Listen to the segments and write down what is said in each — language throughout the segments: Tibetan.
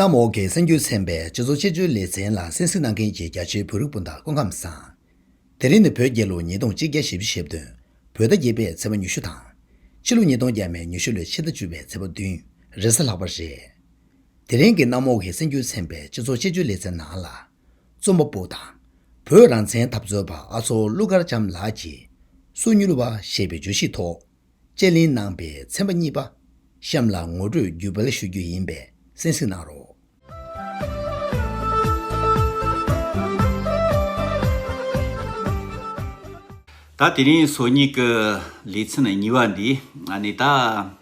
གནམ་འོག་གི་སེམས་རྒྱུད་ཚན་པས་སྤྱི་ཚོགས་དཔྱད་བརྗོད་ལེ་ཚན་ལ་གསན་གཟིགས་གནང་མཁན་གྱི་རྒྱ་ཆེའི་བོད་རིགས་སྤུན་ཟླར་སྐུ་ཁམས་བཟང། དེ་རིང་ནི་བོད་རྒྱལ་ལོ་ཉིས་སྟོང་གཅིག་བརྒྱ་ཞེ་བཞི་ཞེ་བདུན། བོད་ཟླ་བརྒྱད་པའི་ཚེས་པ་ཉི་ཤུ་དང། ཕྱི་ལོ་ཉིས་སྟོང་བརྒྱད་མའི་ཉི་ཤུ་ལོའི་ཕྱི་ཟླ་བཅུ་བའི་ཚེས་པ་བདུན་རེས་གཟའ་ལྷག་པ་རེད། དེ་རིང་གི་གནམ་འོག་གི་སེམས་རྒྱུད་ཚན་པའི་སྤྱི་ཚོགས་དཔྱད་བརྗོད་ལེ་ཚན་ནང་ལ། རྩོམ་པ་པོ་དང། བོད་རང་བཙན་འཐབ་རྩོད་པ་ཨ་མཚོ་ཀླུ་མཁར་བྱམས་ལགས་ཀྱིས། སོ་མྱུལ་བ་ཞེས་པའི་བརྗོད་གཞིའི་ཐོག་དཔྱད་གླེང་གནང་པའི་ཚན་པ་གཉིས་པ་གཤམ་ལ་ངོ་སྤྲོད་བརྒྱུད་སྤེལ་ཞུ་རྒྱུ་ཡིན་པས་གསན་གཟིགས་གནང་རོགས། ད་དེ་རིང་སོ་གཉིས་ཀྱི་ལེ་ཚན་གཉིས་པ་འདི་ནི་ད།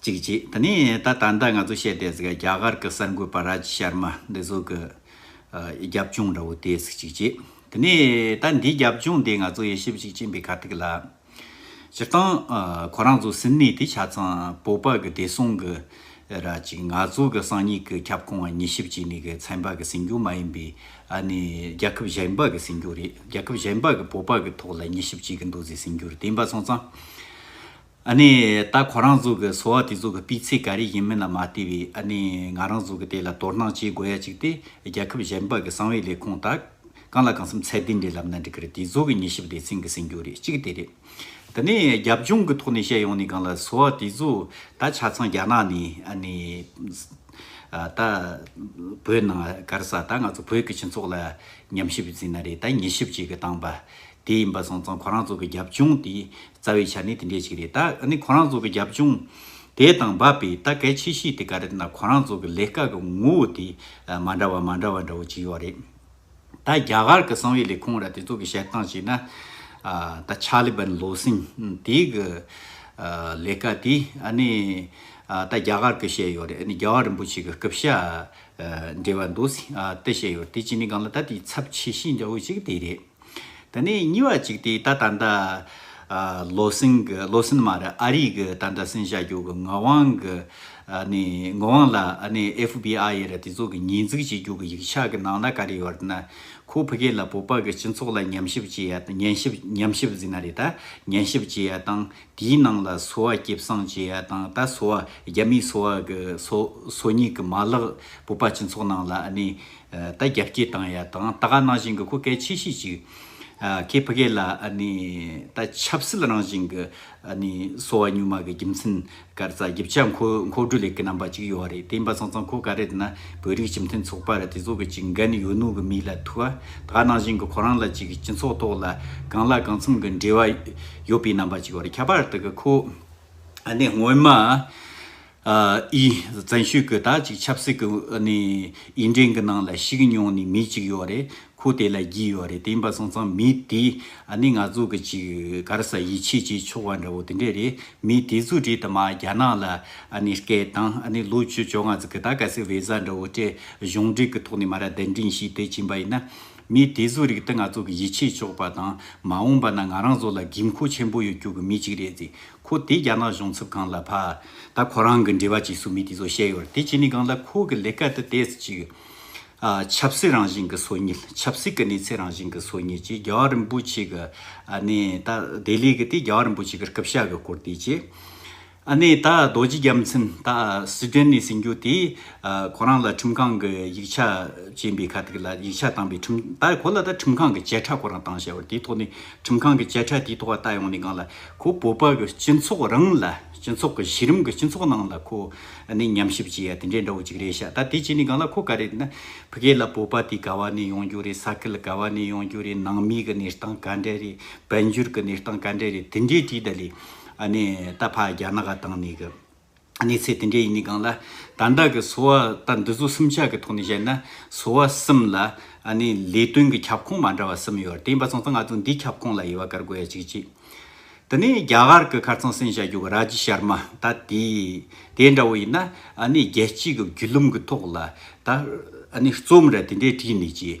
ཅིག་ཅིག་དེ་ནས་ད་ད་ལྟ་ང་ཚོ་བཤད་དེ་ཟིག་རྒྱ་གར་གི་གསར་འགོད་པ་ར་ཇི་ཤར་མ་འདི་ཟོ་གི་རྒྱབ་ལྗོངས་འདྲ་བོ་དེ་ཟིག་ཅིག་ཅིག་དེ་ནས་ད་འདིའི་རྒྱབ་ལྗོངས་དེ་ང་ཚོ་ཡེ་ཤེས་ཅིག་ཅིག་འབི་ཁ་ཐིག་ལ་སྤྱིར་བཏང་ཁོ་རང་ཚོ་སིན་ནེ་དེ་ཆ་ཚང་སྤོ་པ་གི་བདེ་སྲུང་གི་ར་ཅིག་ང་ཚོ་གི་སང་ཉིག་གི་ཁྱབ་ཁོངས་ཉི་ཤིབ་ཅིག་ནི་གི་ཚན་པ་གི་སིན་གྱོ་མ་ཡིན་པི་ཨ་ནི་རྒྱལ་ཁབ་གཞན་པ་གི་སིན་གྱོ་རེད་རྒྱལ་ཁབ་གཞན་པ་གི་སྤོ་པ་གི་ཐོག་ལ་ཉི་ཤིབ་ཅིག་གི་འདུ་ཟིག་སིན་གྱོ་རེད་དེ་འབའ་ཚང་ཚང་ཨ་ནི་ད་ཁོ་རང་ཚོ་གི་སོ་བ་དེ་ཚོ་གི་སྤུས་ཚད་ག་རེ་ཡིན་མིན་ལ་མ་ལྟོས་བའི་ཨ་ནི་ང་རང་ཚོ་གི་དེ་ལ་དོ་སྣང་བྱེད་དགོས་ཡ་ཅིག་སྟེ་རྒྱལ་ཁབ་གཞན་པ་གི་གསང་བའི་ལས་ཁུངས་དག་གང་ལ་གང་སེམས་ཚད་ལྡན་འདྲེ་ལབ་ན་འགྲིག་གི་རེད་དེ་ཚོ་གི་ཉི་ཞིབ་སྡེ་ཚན་གི་ཟིན་རྒྱུ་རེད་གཅིག་དེ་རེད། དེ་ནས་རྒྱབ་ལྗོངས་གི་ཐོག་ནས་བཤད་ཡོང་ནས་གང་ལ་སོ་བ་དེ་ཚོ་ད་ཆ་ཚང་རྒྱ་ནག་ནས་ཨ་ནི་ད་བོད་ནང་ག་རེ་ས་ད་ང་ཚོ་བོད་གི་སྤྱི་ཚོགས་ལ་ཉམས་ཞིབ་བྱེད་ན་རེད་ད་ཉི་ཞིབ་བྱེད་གི་སྟངས་པ་དེ་ཡིན་པ་སོང་ཙང་ཁོ་རང་ཚོ་གི་རྒྱབ་ལྗོངས་དེའི་རྩ་བའི་ཆ་ནི་དེ་འདྲས་ཤིག་རེད། ད་ནི་ཁོ་རང་ཚོ་གི་རྒྱབ་ལྗོངས་དེ་དང་འབབ་པའི་ད་གལ་ཆེ་ཤོས་དེ་ག་རེད་ན་ཁོ་རང་ཚོ་གི་ལས་ཀ་གི་ངོ་བོ་དེ་མ་འདྲ་བ་མ་འདྲ་བ་འདྲ་བོ་ཅིག་ཡོད་རེད། ད་རྒྱ་གར་གི་གསང་བའི་ལས་ཁུངས་ར་དེ་ཚོ་གི་བཤད་སྟངས་བྱས་ན། ད་ཆ་ལི་བན་ལོ་སིང་དེ་གི་ལས་ཀ་དེ་ཨ་ནི་ད་རྒྱ་གར་གི་བཤད་ཡོད་རེད་ཨ་ནི་རྒྱལ་བ་རིན་པོ་ཆེ་གི་སྐུ་བཤད་འབྲེལ་བ་འདུག་སིང་དེ་བཤད་ཡོད་རེད་དེ་བྱས་ནས་གང་ལ་ད་དེའི་ཚབ་ཆེ་ཤོས་འདྲ་བོ་ཅིག་དེ་རེད། དེ་ནས་གཉིས་བ་གཅིག་དེ་ད་ད་འདའ། ལོ་སིང་གི་ལོ་སིན་མ་རེད་ཨ་རིག་གི་ད་འདའ་སིན་བྱ་རྒྱུ་གི་ངག་དབང་གི། ནི་ངག་དབང་ལ་ནི་ཨེཕ་བྷི་ཨ་ཡེ་རེད་དེ་ཚོ་གི་ཉེས་འཛུགས་བྱེད་རྒྱུ་གི་ཡིག་ཆ་གི་ནང་ན་ག་རེ་ཡོད་ན། ཁོ་བྷི་གེ་ལ་བོད་པ་གི་སྤྱི་ཚོགས་ལ་ཉམས་ཞིབ་བྱེད་ཡ་དང་ཉན་ཞིབ་ཉམས་ཞིབ་ཟིན་ན་རེད་ད་ཉན་ཞིབ་བྱེད་ཡ་དང་དེའི་ནང་ལ་སོ་བ་སྐྱེ་བསང་བྱེད་ཡ་དང་ད་སོ་བ་རྒྱ་མིའི་སོ་བ་གི་སོ་སོ་ཉིད་གི་མ་ལག་བོད་པ་སྤྱི་ཚོགས་ནང་ལ་ནི། ད་རྒྱབ་སྐྱེལ་བཏང་ཡ་དང་ད་ག་ནང་བཞིན་གི་ཁོ་སྐད་ཆེ་ཤོས་ཅིག་ཁྱེད་ཕ་གེ་ལ་ད་ཆབ་སྲིད་རང་བཞིན་གི་སོ་བ་སྙུ་མ་གི་རྒྱུ་མཚན་གར་རྩ་རྒྱབ་ཆ་མཁོ་མཁོ་དྲུ་ལེགས་གི་རྣམ་པ་ཅིག་ཡོད་རེད་དེ་ཡིན་པ་ཚང་ཚང་ཁོ་ག་རེད་ན་བོད་རིགས་སྤྱི་མཐུན་ཚོགས་པ་རེད་དེ་ཚོ་གི་ཅིག་འགན་ཡོད་ནོ་གི་མི་ལ་ཐུ་བ་ད་ག་ནང་བཞིན་གི་ཁོ་རང་ལ་ཅིག་སྤྱི་ཚོགས་ཐོག་ལ་གང་ལ་གང་འཚམ་གི་འབྲེལ་བ་ཡོད་པའི་རྣམ་པ་ཅིག་ཡོད་རེད་ཁྱད་པར་དུ་གི་ཁོ་སྔོན་མ་ཨི། བཙན་ཤོད་ཀྱི་དག་ཅིག་ཆབ་སྲིད་ཀྱི་ནི་ཨི་འདྲེན་གྱི་ནང་ལ་ཞིག་མྱོང་ནི་མི་ཅིག་ཡོད་རེད་ཁོ་དེ་ལ་བགྱིད་ཡོད་རེད་དེ་འབའ་སོང་ཙང་མི་དེ་ནི་ང་ཚོ་གི་ཅིག་གར་ས་ཡིད་ཆེས་བྱེད་ཆོག་བ་འདྲ་བོ་དེ་འདྲ་རེད་མི་དེ་ཚོ་དྲིས་དུ་མ་རྒྱ་ནག་ལ་ནི་སྐད་བཏང་ནི་ལོ་བཅུ་བཅོ་ལྔ་ཚུ་གི་དག་ག་སི་བེ་ཟ་འདྲ་བོ་སྤྲད་གཞུང་འབྲེལ་གྱི་ཐོག་ནི་མ་ར་གདན་འདྲིན་ཞིག་དེ་བྱིན་པ་ཡིན་ན། མི་དེ་ཚོ་རིགས་དེ་ང་ཚོ་གི་ཡིད་ཆེས་ཆོག་པ་དང་མ་འོངས་པ་ན་ང་རང་ཚོ་ལ་དགོས་མཁོ་ཆེན་པོ་ཡོད་རྒྱུ་གི་མི་ཅིག་རེད་ཟེར། ཁོ་དེ་རྒྱ་ནག་གཞུང་ཚབ་ཁང་ལ་ཕ། ད་ཁོ་རང་གི་འབྲེལ་བ་ཅིག་སུ་མི་དེ་ཚོ་བཤད་ཡོད་རེད་དེ་ཅི་ནི་གང་ལ་ཁོ་གི་ལས་ཀ་དེ་དེ་ཟེར་ཅིག། ཆབ་སྲིད་རང་བཞིན་གི་སྲོལ་ངེས་ཆབ་སྲིད་ཀི་གནས་ཚད་རང་བཞིན་གི་སྲོལ་ངེས་ཀྱི་རྒྱ་བ་རིན་པོ་ཆེ་གི་ནི་ད་དེ་ལས་གི་དེ་རྒྱ་བ་རིན་པོ་ཆེ་གི་སྐུབ་ཤ་གི་སྐོར་དེ་ཅི། ནི་ད་རྡོ་རྗེ་རྒྱབ་མཚན་ད་སི་ཏན་ནས་ཟིན་རྒྱུ་དེ་ཁོ་རང་ལ་ཁྲིམས་ཁང་གི་ཡིག་ཆ་ཅན་པའི་ཁ་ཐིག་ལ་ཡིག་ཆ་བཏང་པའི་ཁྲིམས་ད་ཁོ་ལ་ད་ཁྲིམས་ཁང་གི་བཅད་ཁྲ་ཁོ་རང་བཏང་བཤད་ཡོད་རེད་དེ་ཐོག་ནས་ཁྲིམས་ཁང་གི་བཅད་ཁྲ་དེའི་ཐོག་བལྟ་ཡོང་ནས་གང་ལ་ཁོ་བོད་པ་གི་སྤྱི་ཚོགས་རང་ལ་སྤྱི་ཚོགས་གི་གཞི་རིམ་གི་སྤྱི་ཚོགས་ནང་ལ་ཁོ་ནི་ཉམས་ཞིབ་བྱེད་ཡ་དེ་འདྲའི་འདྲ་བོ་ཅིག་རེད་ཤག་ད་དེ་བྱས་ནས་གང་ལ་ཁོ་ག་རེད་ན་ཕི་གེ་ལ་བོད་པ་དེ་ག་བ་ནས་ཡོང་རྒྱུ་རེད་ས་ཁུལ་ག་བ་ནས་ཡོང་རྒྱུ་རེད་ནང་མི་གི་གནས་སྟངས་ག་འདྲ་རེད་བན་བྱུར་གི་གནས་སྟངས་ག་འདྲ་རེད་དེ་འདྲའི་དྲིས་ད་ལས་ཨ་ནས་ད་ཕ་རྒྱ་ནག་ག་དང་ནས་གི། གནས་ཚད་དེ་འདྲའི་ཡིན་ནི་གང་ལ། ད་ལྟ་གི་སོ་བ་དང་འདི་ཚོ་གསུམ་ཆ་གི་ཐོག་ནས་བཤད་ན་སོ་བ་གསུམ་ལ་ལས་དོན་གི་ཁྱབ་ཁོངས་མ་འདྲ་བ་གསུམ་ཡོད་དེ་ཡིན་པ་སོང་ཙང་ང་ཚོ་འདིའི་ཁྱབ་ཁོངས་ལ་དབྱེ་བ་བཀར་དགོས་ཡ་གཅིག་གཅིག་དེ་ནས་རྒྱ་གར་གི་ཁར་ཚང་སེང་བྱ་རྒྱུ་གི་ར་ཇི་ཤར་མ་ད་དེ་དེ་འདྲ་བོ་ཡིན་ན་རྒྱལ་སྤྱི་གི་རྒྱུད་ལུང་གི་ཐོག་ལ་ད་རྩོམ་ར་དེ་འདྲའི་བྲིས་ནས་ཀྱི།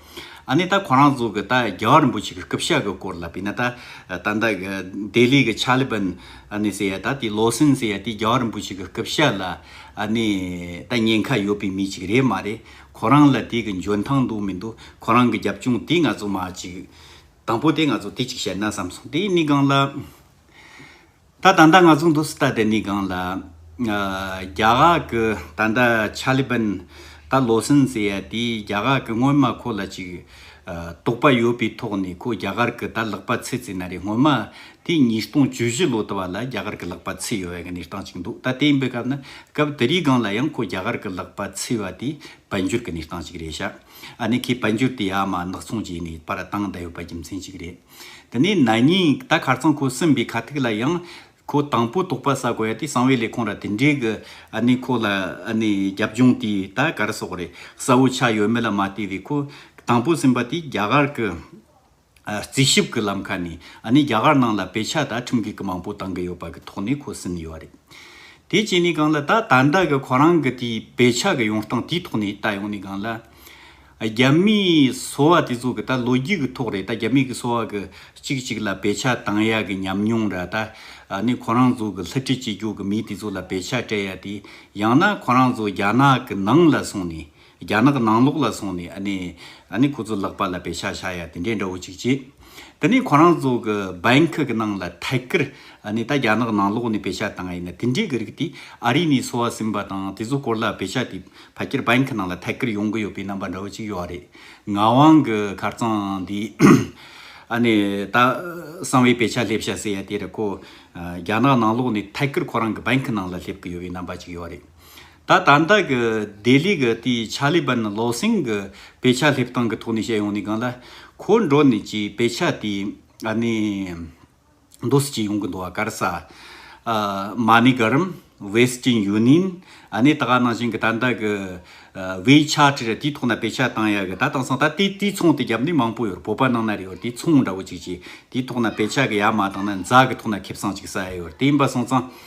ཨ་ནི་ད་གོ་རང་ཚོ་གི་ད་རྒྱལ་བ་རིན་པོ་ཆེ་གི་སྐུ་ཕྱྭ་གི་སྐོར་ལ་བི་ན་ད་ད་ད་གི་ལྡེ་ལི་གི་ཆ་ལི་བན་ཨ་ནི་སེ་ཡ་ད་དེ་ལོ་སིན་སེ་ཡ་དེ་རྒྱལ་བ་རིན་པོ་ཆེ་གི་སྐུ་ཕྱྭ་ལ་ཨ་ནི་ད་ཉེན་ཁ་ཡོད་པའི་མི་ཅིག་རེད་མ་རེད་གོ་རང་ལ་དེ་གི་འཇོན་ཐང་འདུག་མི་འདུག་གོ་རང་གི་རྒྱབ་སྐྱོང་དེ་ང་ཚོ་མ་ཅིག་དང་པོ་དེ་ང་ཚོ་དེ་ཅིག་བཤད་ན་བསམ་སོང་དེ་ནི་གང་ལ། ད་ད་ད་ང་ཚོ་འདུག་སྟ་དེ་ནི་སྒང་ལ། རྒྱ་གར་གི་ད་ད་ཆ་ལི་བན། ད་ལོ་སིན་ཟེར་ཡ་དེས་རྒྱ་གར་གི་སྔོན་མ་ཁོ་ལ་ཅིག། དོགས་པ་ཡོད་པའི་ཐོག་ནས་ཁོ་རྒྱ་གར་གི་ད་ལག་པ་ཚེ་ཚེ་ན་རེ་སྔོན་མ། དེ་ཉིས་སྟོང་བཅུ་བཞི་ལོ་ད་བ་ལ་རྒྱ་གར་གི་ལག་པ་ཚེ་ཡོད་བའི་གནས་སྟངས་ཅིག་འདུག་ད་དེ་ཡིན་པའི་སྐབས་ན་སྐབས་དེ་རིའི་སྒང་ལ་ཡང་ཁོ་རྒྱ་གར་གི་ལག་པ་ཚེ་བ་དེ་བལ་འབྱོར་གི་གནས་སྟངས་ཅིག་རེད་ཤག་ཨ་ནི་ཁོས་བལ་འབྱོར་དེ་ཡ་མ་ནག་ཚོང་བྱས་ནས་པར་བཏང་ད་ཡོད་པ་རྒྱུ་མཚན་ཅིག་རེད། དེ་ནས་ན་ནིང་ད་གར་ཚང་ཁོ་སིམ་པའི་ཁ་ཐུག་ལ་ཡང། ཁོ་དང་པོ་དོགས་པ་བསགས་དགོས་ཡ་དེ་གསང་བའི་ལས་ཁུངས་ར་དེ་འདྲས་གི་ཨ་ནི་ཁོ་ལ་ཨ་ནི་རྒྱབ་ལྗོངས་དེ་ད་གར་སོགས་རེད་གསལ་བོ་ཆགས་ཡོད་མེད་ལ་མ་ལྟོས་བའི་ཁོ་དང་པོ་སིམ་པ་དེ་རྒྱ་གར་གི་རྩིས་ཞིབ་གི་ལམ་ཁ་ནས་ཨ་ནི་རྒྱ་གར་ནང་ལ་དཔེ་ཆ་ད་ཁྲིམས་འགལ་གི་མང་པོ་བཏང་གི་ཡོད་པ་གི་ཐོག་ནས་ཁོ་སིམ་ཡོད་རེད། དེ་བྱས་ནས་གང་ལ་ད་ད་ལྟ་གི་ཁོ་རང་གི་དེའི་དཔེ་ཆ་གི་ཡོང་སྟངས་དེའི་ཐོག་ནས་ད་ཡོང་ནས་གང་ལ། རྒྱ་མིས་གསོ་བ་དེ་ཚོ་གི་ད་ལོ་རྒྱུས་ཀྱི་ཐོག་རེད་ད་རྒྱ་མིས་གི་གསོ་བ་གི་གཅིག་གཅིག་ལ་བེད་ཆགས་བཏང་ཡག་གི་ཉམས་མྱོང་ར་ད་ནི་ཁོ་རང་ཚོ་གི་ལྷི་ཁྲི་སྤྱི་རྒྱུག་གི་མི་དེ་ཚོ་ལ་བེད་ཆགས་སྤྲད་ཡག་དེ་ཡང་ན་ཁོ་རང་ཚོ་རྒྱ་ནག་གི་ནང་ལ་སོང་ནས་རྒྱ་ནག་གི་ནང་ལོག་ལ་སོང་ནས་ཨ་ནི་ཨ་ནི་ཁོ་ཚོ་ལག་པ་ལ་བེད་ཆགས་བཞག་ཡག་དེ་འདྲས་འདྲ་བོ་གཅིག་བྱེད། དེ་ནས་ཁོ་རང་ཚོ་གི་འབའ་ཁུག་གི་ནང་ལ་ཐད་ཀར་ནས་ད་རྒྱ་ནག་ནང་ལོགས་ནས་བེ་ཤ་བཏང་ཨེ་ཡིན་དེ་འདྲའི་གི་རིགས་དེ་ཨ་རི་ནས་སོ་ཨ་ཟིན་པ་དང་དེ་ཚོ་སྐོར་ལ་བེ་ཤ་དེ་ཕ་ཁྱེར་འབའ་ཁུག་ནང་ལ་ཐད་ཀར་ཡོང་གི་ཡོད་པའི་རྣམ་པ་འདྲ་བོ་ཅིག་ཡོད་རེད། ངག་དབང་གི་ཁར་རྩང་འདི་ཨ་ནི་ད་གསང་བའི་བེ་ཤ་སླེབས་ཤ་ཟེར་ཡ་དེ་རེད་ཁོ་རྒྱ་ནག་ནང་ལོགས་ནས་ཐད་ཀར་ཁོ་རང་གི་འབའ་ཁུག་ནང་ལ་སླེབས་གི་ཡོད་པའི་རྣམ་པ་ཅིག་ཡོད་རེད། ད་ལྟ་ད་ལྟ་གི་ལྡི་ལི་གི་དེའི་ཆཱ་ལི་བཱན་བློ་སེང་གི་བེ་ཆ་སླེབས་སྟངས་ཀྱི་ཐོག་ནས་བཤད་ཡོང་ནས་གང་ལ། ཁོ་འགྲོ་ནས་ཀྱི་བེ་ཆ་དེ་ཨ་ནེ། འདོ་སི་ཅི་ཡོང་གི་འདུག་ཨ་ཀར་ས། མ་ནི་ག་རིམ། Western Union། ཨ་ནེ་ད་ག་ནང་བཞིན་གི་ད་ལྟ་གི། བེ་ཆ་ཁྲི་ར་དེའི་ཐོག་ན་བེ་ཆ་བཏང་ཡག་གི་ད་བཏང་སང་ད་དེ་དེའི་ཚོང་དེ་རྒྱབ་ནས་མང་པོ་ཡོད་བོད་པ་ནང་ན་རེད་ཡོད་དེའི་ཚོང་འདྲ་བོ་ཅིག་ཅེས་དེའི་ཐོག་ན་བེ་ཆ་གི་ཡག་མ་བཏང་ན་འཛག་གི་ཐོག་ན་ཁེབས་སང་ཅིག་ས་ཡོད་དེ་ཡིན་པ་སོང་ཙང།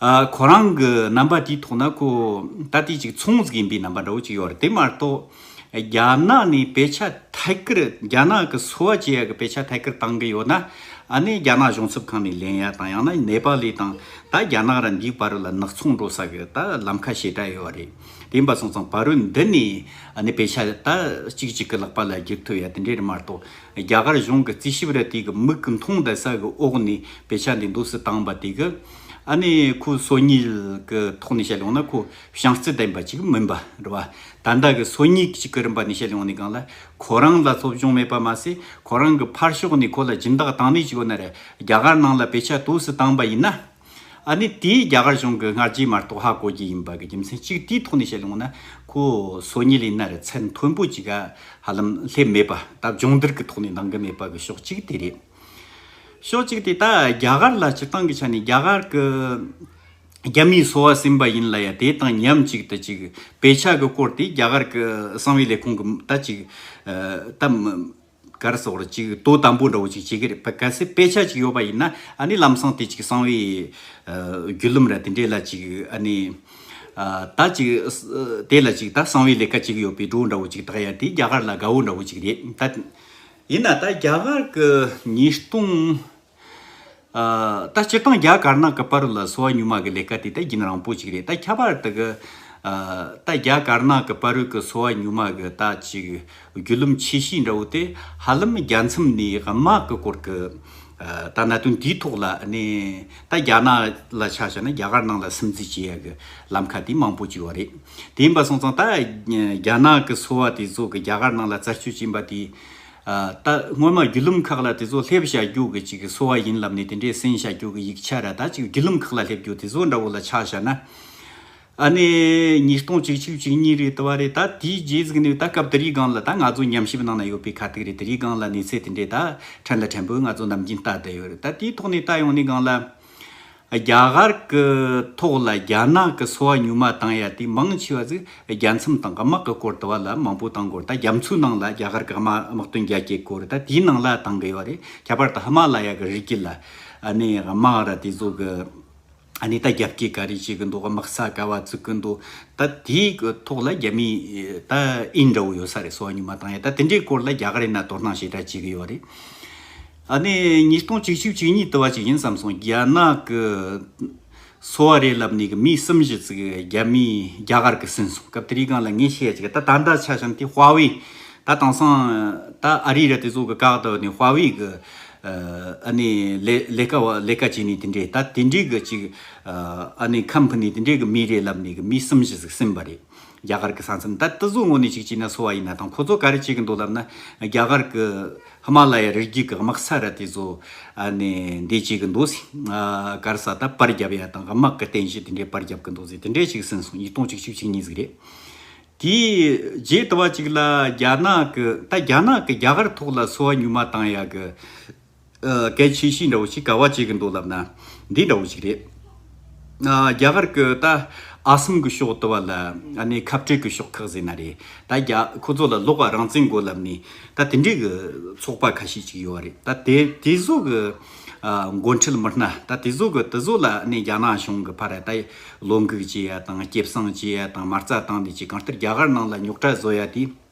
ཁོ་རང་གི་རྣམ་པ་དེའི་ཐོག་ན་ཁོ་ད་ལྟའི་ཅིག་ཚོང་ཟིག་ཡིན་པའི་རྣམ་པ་འདྲ་བོ་ཅིག་ཡོད་རེད་དེ་མ་གཏོགས། རྒྱ་ནག་ནས་དཔེ་ཆ་ཐད་ཀར་རྒྱ་ནག་གི་སོ་བ་བྱེད་ཡག་གི་དཔེ་ཆ་ཐད་ཀར་བཏང་གི་ཡོད་ན། ཨ་ནི་རྒྱ་ནག་གཞུང་ཚབ་ཁང་ནས་ལེན་ཡག་དང་ཡང་ན་ནེ་པ་ལི་དང་ད་རྒྱ་ནག་ར་འདིའི་བར་ལ་ནག་ཚོང་འགྲོ་ས་གི་ད་ལམ་ཁ་ཞེ་དྲག་ཡོད་རེད་དེ་འབའ་སོང་ཙང་བ་རོལ་འདི་ནས་ཨ་ནི་དཔེ་ཆ་ད་ཅིག་ཅིག་གི་ལག་པ་ལ་སྒྱུར་ཐུབ་ཡག་དེ་འདྲའི་རེད་མ་གཏོགས། རྒྱ་གར་གཞུང་གི་རྩིས་ཞིབ་ར་དེ་གི་མིག་གི་མཐོང་ལྟ་ས་གི་འོག་ནས་དཔེ་ཆ་འདི་འདུག་སི་བཏང་བ་དེ་གི། ཨ་ནི་ཁོའི་སོ་ཉིལ་གྱི་ཐོག་ནས་བཤད་ལོང་ན་ཁོ་བྱང་རྩེ་ལྡན་པ་ཅིག་མིན་པ་རེད་བ། ད་ལྟ་གི་སོ་ཉིལ་གྱི་རིམ་པ་ནས་བཤད་ལོང་ནི་གང་ལ་ཁོ་རང་ལ་ཚོགས་ཆུང་མེད་པ་མ་ཟད་ཁོ་རང་གི་ཕར་ཕྱོགས་ནས་ཁོ་ལ་སྦྱིན་བདག་བཏང་ནས་ཅིག་ཁོ་ནར་རྒྱ་གར་ནང་ལ་བེད་ཆ་དུས་སུ་བཏང་བ་ཡིན་ན། ཨ་ནི་དེས་རྒྱ་གར་གཞུང་གི་སྔ་རྗེས་མ་གཏོགས་ཧ་གོ་རྒྱུ་ཡིན་པ་གི་རྒྱུ་མཚན་གཅིག་དེའི་ཐོག་ནས་བཤད་ལོང་ན་ཁོ་སོ་ཉིལ་ཡིན་ན་རེད་ཚད་མཐོན་པོ་ཅིག་ཧ་ལམ་སླེབས་མེད་པ་སྟབས་སྦྱོང་བརྡར་གྱི་ཐོག་ནས་འདང་གི་མེད་པ་གི་ཕྱོགས་གཅིག་དེ་རེད། ཕྱོགས་གཅིག་དེ་དག་རྒྱ་གར་ལ་སྤྱིར་བཏང་གི་ཆ་ནས་རྒྱ་གར་གྱི་རྒྱ་མིའི་སོ་བ་ཟིན་པ་ཡིན་ལ་ཡ་དེ་དང་མཉམ་གཅིག་ཏུ་གཅིག་བེད་ཆགས་ཀྱི་སྐོར་དེ་རྒྱ་གར་གྱི་གསང་བའི་ལས་ཁུངས་ཀྱི་ད་གཅིག་ད་གར་སོགས་ལ་གཅིག་དོ་དམ་པོ་འདྲ་བོ་ཅིག་བྱེད་ཀྱི་རེད་གལ་སྲིད་དཔེ་ཆ་ཅིག་ཡོད་པ་ཡིན་ན་ནི་ལམ་སང་དེ་གཅིག་གསང་བའི་རྒྱུད་ལུམ་ར་དེ་འདྲས་ལ་གཅིག་ནི་ད་གཅིག་དེ་ལ་གཅིག་ད་གསང་བའི་ལས་ཀ་གཅིག་ཡོད་པའི་སྒྲོ་འདྲ་བོ་ཅིག་དག་ཡ་དེ་རྒྱ་གར་ལ་དགའ་བོ་འདྲ་བོ་ཅིག་རེད་ད། ཡིན་ན་ད་རྒྱ་གར་གི་ཉིས་སྟོང་ད་སྤྱིར་བཏང་རྒྱ་དཀར་ནག་གི་དཔའ་རུ་ལ་སོ་བ་ཉུང་མ་གི་ལས་ཀ་དེ་ད་རྒྱུན་རང་པོ་ཅིག་རེད་ད་ཁྱད་པར་དུ་གི་ད་རྒྱ་དཀར་ནག་གི་དཔའ་རུ་གི་སོ་བ་ཉུང་མ་གི་ད་ཅིག་རྒྱུ་ལུམ་ཆེ་ཤོས་འདྲ་བོ་དེ་ཧ་ལམ་རྒྱ་མཚམས་ནས་དམག་གི་སྐོར་གི་ད་གནད་དོན་དེའི་ཐོག་ལ་ནི་ད་རྒྱ་ནག་ལ་ཆ་བཞག་ན་རྒྱ་གར་ནང་ལ་སིམ་འཛུལ་བྱེད་ཡ་གི་ལམ་ཁ་དེ་མང་པོ་ཅིག་བ་རེད། དེ་ཡིན་པ་སོང་ཙང་ད་རྒྱ་ནག་གི་སོ་བ་དེ་ཚོ་གི་རྒྱ་གར་ནང་ལ་རྩར་བཅོས་བྱིན་པ་དེ། ད་སྔོན་མ་རྒྱུད་ལུམ་ཁག་ལ་དེ་ཚོ་སླེབས་བཞག་རྒྱུ་གི་ཅིག་སོ་བ་ཡིན་ལབ་ནས་དེ་འདྲའི་སེང་བཞག་རྒྱུ་གི་ཡིག་ཆ་ར་ད་ཅིག་རྒྱུད་ལུམ་ཁག་ལ་སླེབས་རྒྱུ་དེ་ཚོ་འདྲ་བོ་ལ་ཆགས་བཞག་ན། ཨ་ནི་ཉིས་སྟོང་བཅུ་གཅིག་བཅུ་གཉིས་རེད་ད་བ་རེད་ད་དེའི་རྗེས་གཟིགས་ནས་ད་སྐབས་དེ་རིའི་སྒང་ལ་ད་ང་ཚོ་ཉམས་ཞིབ་ནང་ན་ཡོད་པའི་ཁ་ཐུག་རེད་དེ་རིའི་སྒང་ལ་གནས་ཚད་དེ་འདྲའི་ད་ཕྲན་ལ་ཕྲན་བུ་ང་ཚོ་ནམ་རྒྱུན་ལྟ་བསྡད་ཡོད་རེད་ད་དེའི་ཐོག་ནས་ད་ཡོང་ནས་སྒང་ལ། རྒྱ་གར་གྱི་ཐོག་ལ་རྒྱ་ནག་གི་སོ་བ་ཉུང་མ་བཏང་ཡ་དེ་མང་ཆེ་བ་གཟིགས་རྒྱ་མཚམས་དང་ག་དམག་གི་སྐོར་དུ་བ་ལ་མང་པོ་བཏང་དགོས་རེད་ད་རྒྱ་མཚོའི་ནང་ལ་རྒྱ་གར་གི་དམག་དམག་དོན་རྒྱ་སྐྱེད་དགོས་རེད་ད་དེའི་ནང་ལ་བཏང་གི་ཡོད་རེད་ཁྱད་པར་དུ་ཧི་མ་ལ་ཡ་གི་རི་སྐེད་ལ་ནས་དམག་ར་དེ་ཚོ་གི་ནས་ད་རྒྱ་བསྐྱེད་ག་རེ་བྱེད་གི་འདུག་དམག་ས་ག་བ་བཙུགས་གི་འདུག་ད་དེའི་གི་ཐོག་ལ་རྒྱ་མི་ད་ཨིན་འདྲ་བོ་ཡོད་ས་རེད་སོ་བ་ཉུང་མ་བཏང་ཡ་ད་དེ་འདྲའི་སྐོར་ལ་རྒྱ་གར་ཡིན་ན་དོ་སྣང་ཞེ་དྲག་བྱེད་གི་ཡོད་རེད། ཨ་ནི་ཉིས་སྟོང་ཅིག་ཤོས་ཅིག་ཉིད་དུ་བ་ཅིག་ཡིན་བསམ་སོང་རྒྱ་ནག་གི་སོ་བ་རེད་ལབ་ནས་གི་མི་གསུམ་བཞི་ཙིག་རྒྱ་མི་རྒྱ་གར་གི་ཟིན་སོང་སྐབས་དེ་རིག་གང་ལ་ངས་ཤེས་ཡ་ཅིག་གི་ད་ད་འདའ་ཆ་བྱང་དེ་བྷ་བི་ད་དང་སང་ད་ཨ་རི་ར་དེ་ཚོ་གི་བཀག་ཏུ་ནས་བྷ་བི་གི་ཨ་ནི་ལས་ལས་ཀ་བ་ལས་ཀ་བྱས་ནས་དེ་འདྲས་ད་དེ་འདྲས་གི་ཅིག་ཨ་ནི་ཁམ་ཕུ་ནས་དེ་འདྲས་གི་མི་རེད་ལབ་ནས་གི་མི་གསུམ་བཞི་ཟིག་ཟིན་པ་རེད། རྒྱ་གར་གྱི་ས་མཚམས་ད་ལྟ་བཟོ་དངོས་ནས་ཅིག་བྱས་ན་གསོ་བ་ཡིན་ན་དང་ཁོ་ཚོ་ག་རེ་བྱེད་ཀྱི་འདུག་ལབ་ན་རྒྱ་གར་གྱི་ཧི་མ་ལ་ཡ་རི་རྒྱུད་ཀྱི་དམག་ས་ར་དེ་བཟོ་ནས་འདི་བྱེད་ཀྱི་འདུག་ཟེར། གར་ས་ད་པར་རྒྱབ་ཡ་དང་དམག་གི་རྟེན་གཞི་དེ་འདྲའི་པར་རྒྱབ་ཀྱི་འདུག་ཟེར་དེ་འདྲས་ཅིག་ཟིན་སོང་ཉིས་སྟོང་ཅིག་བཅུ་གཅིག་ཉིན་ཟིག་རེད། དེའི་རྗེས་ལྟ་བ་ཅིག་ལ་རྒྱ་ནག་གི་ད་རྒྱ་ནག་གི་རྒྱ་གར་ཐོག་ལ་གསོ་བ་ཉུལ་མ་བཏང་ཡ་གི། སྐད་ཆའི་གཤིས་འདྲ་བོ་ཞིག་ག་བ་བྱེད་གི་འདུག་ལབ་ན། འདི་འདྲ་བོ་ཞིག་རེད། རྒྱ་གར་གྱི་ད་ཨ་སམ་གྱི་ཕྱོགས་དེ་བ་ལ་ནི་ཁབ་སྤྲེལ་གྱི་ཕྱོགས་ཁག་ཟེར་ན་རེད། ད་རྒྱ་ཁོ་ཚོ་ལ་ལོག་པ་རང་བཙན་དགོས་ལབ་ནས་ད་དེ་འདྲའི་གི་ཚོགས་པ་ཁ་ཤས་ཅིག་ཡོད་བ་རེད། ད་དེ་དེ་ཚོ་གི་མགོ་འཁྲིད་མི་སྣ་ད་དེ་ཚོ་གི་དེ་ཚོ་ལ་ནི་རྒྱ་ནག་གཞུང་གི་ཕར་ད་བློ་འགུག་བྱེད་ཡ་དང་སྐྱེ་བསང་བྱེད་ཡ་དང་མ་རྩ་བཏང་ནས་ཅིག་གང་ལྟར་རྒྱ་གར་ནང་ལ་ཉོག་དྲ་བཟོ་ཡ་དེ།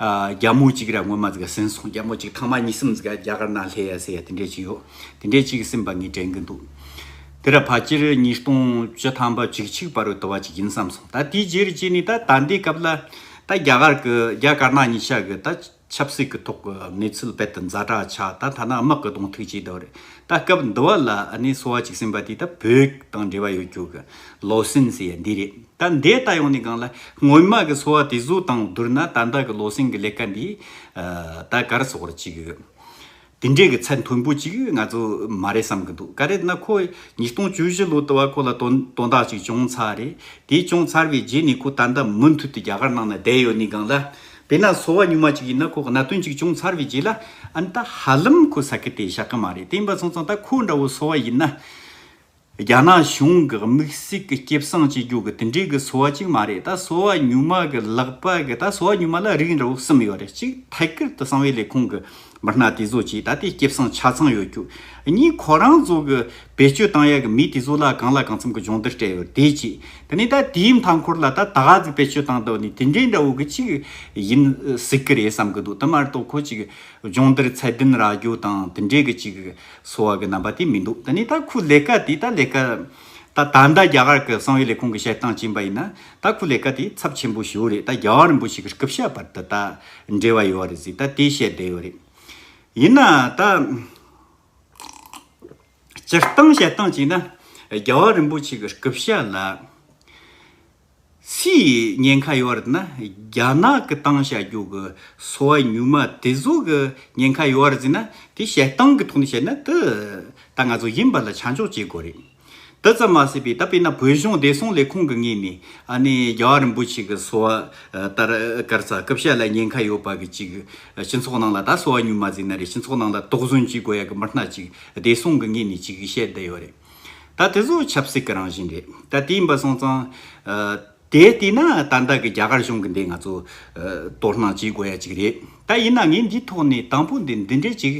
རྒྱ་མོ་གཅིག་ར་སྔོན་མ་ཟིག་ཟིན་སོང་རྒྱ་མོ་གཅིག་ཐང་མ་གཉིས་གསུམ་ཟིག་རྒྱ་གར་ནང་སླེ་ཡ་སེ་ཡ་དེ་འདྲས་གཅིག་ཡོད་དེ་འདྲས་གཅིག་སེམས་པ་ངས་དྲན་གི་འདུག་དེ་ར་ཕ་སྤྱིར་ཉིས་སྟོང་བཅུ་ཐང་པ་ཅིག་ཆིག་པ་རུ་དོ་བ་ཅིག་ཡིན་བསམ་སོང་ད་དེའི་རྗེས་རི་གཅིག་ནི་ད་ད་འདའི་སྐབས་ལ་ད་རྒྱ་གར་གི་རྒྱ་གར་ནང་ཉིས་ཤག་གི་ད་ཆབ་སྲིད་ཀི་ཐོག་གི་གནས་ཚུལ་རྦད་དུ་འཛའ་དྲག་ཆག་ད་ཐ་ན་དམག་གི་གདོང་ཐུག་ཅིག་འདུག་རེད་ད་སྐབས་འདི་བ་ལ་ནི་སོ་བ་ཅིག་སེམས་པ་དེ་ད་བོད་ཀི་དང་འབྲེལ་བ་ཡོད་རྒྱུ་གི་ལོ་སིན་སེ་ཡ་འདི་རེད། ད་ལྟའི་ལྟ་ཡོང་ནི་གང་ལ། སྔོན་མ་གི་འཚོ་བ་དེ་ཚོ་དང་བསྡུར་ན་ད་ལྟ་གི་བློ་སེང་གི་ལས་ཀ་འདི། ད་གར་སོག་ར་ཅིག་ཡོད། དེ་འདྲའི་གི་ཚད་མཐོན་པོ་ཅིག་ང་ཚོ་མ་རེད་བསམ་གི་འདུག་ག་རེད་ན་ཁོ། ཉིས་སྟོང་བཅུ་བཞི་ལོ་དུ་བ་ཁོ་ལ་དོན་དོན་དག་ཅིག་བྱུང་ཚར་རེད། དེ་བྱུང་ཚར་བའི་རྗེས་ནས་ཁོ་ད་ལྟ་མུ་མཐུད་དུ་རྒྱ་གར་ནང་ན་བསྡད་ཡོད་ནི་གང་ལ། དེ་ན་འཚོ་བ་སྙུག་མ་ཅིག་ཡིན་ན་ཁོ་གནད་དོན་ཅིག་བྱུང་ཚར་བའི་རྗེས་ལ། ཨ་ན་ད་ཧ་ལམ་ཁོ་ཟ་གི་དེ་བཞག་གི་མ་རེད་དེ་འབའ་ཚང་ཚང་ད་ཁོ་འདྲ་བོ་འཚོ་བ་ཡིན་ན། རྒྱ་ནག་གཞུང་གི་དམིགས་སྲིད་ཀྱི་སྐྱེ་བསང་བྱེད་རྒྱུ་གི་དེ་འདྲའི་གི་སོ་བ་གཅིག་མ་རེད་ད་སོ་བ་ཉུང་མ་གི་ལག་པ་གི་ད་སོ་བ་ཉུང་མ་ལ་རིགས་འདྲ་བོ་གསུམ་ཡོད་རེད་གཅིག་ཐད་ཀར་དུ་གསང་བའི་ལས་ཁུངས་གི་མི་སྣ་དེ་ཚོ་གཅིག་ད་ལྟའི་སྐྱེ་བསང་ཆ་ཚང་ཡོད་རྒྱུ་གཉིས་ཁོ་རང་ཚོ་གི་བེད་སྤྱོད་བཏང་ཡ་གི་མི་དེ་ཚོ་ལ་གང་ལ་གང་འཚམ་གི་སྦྱོང་བརྡར་སྤྲད་ཡོད་དེ་གཅིག་དེ་ནས་ད་དེའི་མཐའ་འཁོར་ལ་ད་ད་ག་ཚིག་བེད་སྤྱོད་བཏང་ད་ནི་དེ་འདྲའི་འདྲ་བོ་གི་གཅིག་ཡིན་སྲིད་གི་རེད་བསམ་གི་འདུག་དེ་མ་རེད་དོ་ཁོ་གཅིག་སྦྱོང་བརྡར་ཚད་ལྡན་རག་རྒྱུ་དང་དེ་འདྲའི་གི་གཅིག་སོ་བ་གི་རྣམ་པ་དེ་མི་འདུག་ད་ནི་ད་ཁུ་ལེ་ཀ་དེ་ད་ལེ་ཀ། ད་ད་ལྟ་རྒྱ་གར་གི་གསང་བའི་ལས་ཁུངས་ཀྱི་བཤད་སྟངས་ཅན་པ་ཡིན་ན། ད་ཁུ་ལེ་ཀ་དེ་ཚབས་ཆེན་པོ་ཞིག་རེད་ད་རྒྱ་གར་རིན་པོ་ཆེ་གི་སྐུ་བཤད་བར་དུ་ད་འབྲེལ་བ་ཡོད་རེད་ཟིག་ད་དེ་བཤད་བསྡད་ཡོད་རེད། ཡིན་ན་ད། སྤྱིར་བཏང་བཤད་སྟངས་ཅན་ན་རྒྱ་གར་རིན་པོ་ཆེ་གི་སྐུ་བཤད་ལ། སི་ཡིས་ཉེན་ཁ་ཡོད་ན་རྒྱ་ནག་གི་གཏང་བྱ་རྒྱུག་གི་སོ་བ་ཉུག་མ་དེ་ཚོ་གི་ཉེན་ཁ་ཡོད་རེད་ཟེར་ན་དེ་བྱེད་སྟངས་གི་ཐོག་ནས་བྱས་ན་དེ་ད་ང་ཚོ་ཡིན་པ་ལ་ཆ་འཇོག་བྱེད་དགོས་རེད། དེ་ཙམ་མ་ཟད་པའི་ད་དཔེར་ན་བོད་གཞུང་བདེ་སྲུང་ལས་ཁུངས་ཀྱི་ངོས་ནས་ཨ་ནི་རྒྱ་བ་རིན་པོ་ཆེ་གི་སོ་བ་ལྟར་སྐར་ཚ་སྐུ་བཤད་ལ་ཉེན་ཁ་ཡོད་པ་གི་ཅིག་སྤྱི་ཚོགས་ནང་ལ་ད་སོ་བ་ཉུག་མ་བཟོས་ན་རེད་སྤྱི་ཚོགས་ནང་ལ་དོགས་ཟོན་བྱེད་དགོས་ཡ་གི་མི་སྣ་ཅིག་བདེ་སྲུང་གི་ངོས་ནས་ཅིག་བཤད་བསྡད་ཡོད་རེད། ད་དེ་ཚོ་ཆབ་སྲིད་ཀྱི་རང་བཞིན་རེད་ད་དེའི་འབའ་སོང་ཙང། དེ་ལྟས་ན་ད་ལྟ་གི་རྒྱ་གར་གཞུང་གི་འདི་ང་ཚོ། དོ་སྣང་བྱེད་དགོས་ཡ་གཅིག་རེད་ད་ཡིན་ན་ངས་འདིའི་ཐོག་ནས་དང་པོ་འདི་འདི་འདྲས་གཅིག་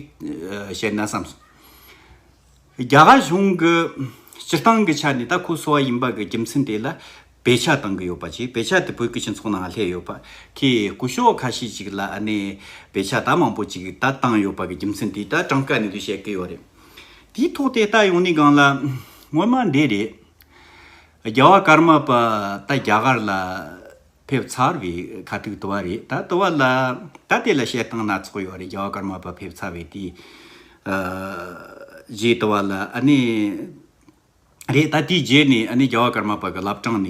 བཤད་ན་བསམ་སོང། རྒྱ་གར་གཞུང་གི་སྤྱིར་བཏང་གི་ཆ་ནས་ད་ཁོ་སོ་བ་ཡིན་པ་གི་རྒྱུ་མཚན་དེ་ལ། བེད་ཆགས་གཏང་གི་ཡོད་པ་ཅིག་བེད་ཆགས་དེ་བོད་ཀྱི་སྤྱི་ཚོགས་ནང་ལྷད་ཡོད་པ། ཁྱི་རྐུ་ཤོག་ཁ་ཤས་ཅིག་ལ་ནས་བེད་ཆགས་ད་མང་པོ་ཅིག་ད་བཏང་ཡོད་པ་གི་རྒྱུ་མཚན་དེ་ད་གྲངས་ཀ་ནས་དུ་བཤད་ཀི་ཡོད་རེད། དེའི་ཐོག་དེ་ལྟ་ཡོང་ནི་སྒང་ལ་སྔོན་མ་འདི་རེད། རྒྱ་བ་ཀརྨ་པ་ད་རྒྱ་གར་ལ་ཕེབས་ཚར་བའི་ཁ་ཐུག་དུ་བ་རེད་ད་དུ་བ་ལ་ད་དེ་ལ་བཤད་སྟངས་སྣ་ཚོགས་ཡོད་རེད་རྒྱ་བ་ཀརྨ་པ་ཕེབས་ཚར་བའི་དེའི་རྗེས་དུ་བ་ལ་ནས། རེད་ད་དེའི་རྗེས་ནས་ནི་རྒྱལ་བ་ཀརྨ་པ་གི་བླ་བྲང་ནས་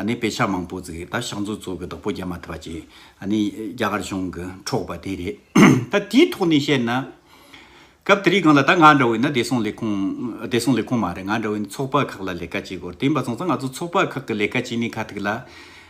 ནི་དཔེ་ཆ་མང་པོ་བརྩིགས་ད་ཤག་མཛོད་གཙོ་གི་བདག་པོ་རྒྱ་མ་ཐི་བ་བཅས་ནི་རྒྱ་གར་གཞུང་གི་འཕྲོག་པ་དེ་རེད་ད་དེའི་ཐོག་ནས་བཤད་ན། སྐབས་དེ་རིགས་གང་ལ་ད་ང་འདྲ་བོའི་ནི་བདེ་སྲུང་ལས་ཁུངས་བདེ་སྲུང་ལས་ཁུངས་མ་རེད་ང་འདྲ་བའི་ནི་ཚོགས་པ་ཁག་ལ་ལས་ཀ་བྱེད་དགོས་རེད་དེ་མ་ཚང་ཚང་ང་ཚོ་ཚོགས་པ་ཁག་གི་ལས་ཀ་བྱེད་ནི་ཁ་ཐུག་ལ།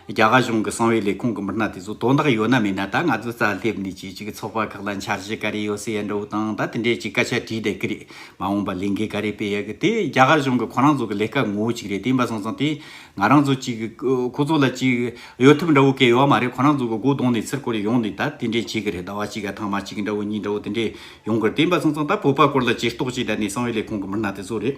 རྒྱ་གར་གཞུང་གི་གསང་བའི་ལས་ཁུངས་ཀྱི་མི་སྣ་དེ་ཚོ་དོན་དག་ཡོད་ན་མེད་ན་ད་ང་ཚོའི་རྩར་སླེབས་ནས་ཇེ་ཅིག་ཚོགས་པ་ཁག་ལ་འཆར་གཞི་ག་རེ་ཡོད་ཟེར་ཡ་འདྲ་བོ་དང་ད་དེ་འདྲའི་ཅིག་སྐད་ཆ་དྲིས་བསྡད་ཀི་རེད་མ་འོངས་པར་ལས་འགན་ག་རེ་སྤེལ་ཡ་གི་དེ་རྒྱ་གར་གཞུང་གི་ཁོ་རང་ཚོ་གི་ལས་ཀ་ངོ་བོ་ཅིག་རེད་དེ་འབའ་སོང་ཙང་དེ་ང་རང་ཚོ་ཅིག་ཁོ་ཚོ་ལ་ཅིག་གཡོལ་ཐབས་འདྲ་བོ་ག་ཡོད་མ་རེད་ཁོ་རང་ཚོ་གི་སྒོ་གདོང་ནས་ཚིར་བསྐོར་ཡོང་ནས་ད་དེ་འདྲའི་ཅིག་གི་རེད་ཟླ་བ་གཅིག་ག་ཐང་མ་ཅིག་འདྲ་བོ་གཉིས་འདྲ་བོ་དེ་འདྲའི་ཡོང་གི་རེད་དེ་འབའ་སོང་ཙང་ད་བོད་པ་སྐོར་ལ་ཇེ་སྟོགས་ཅིག་བསྡད་ནས་གསང་བའི་ལས་ཁུངས་ཀྱི་མི་སྣ་དེ་ཚོ་རེད།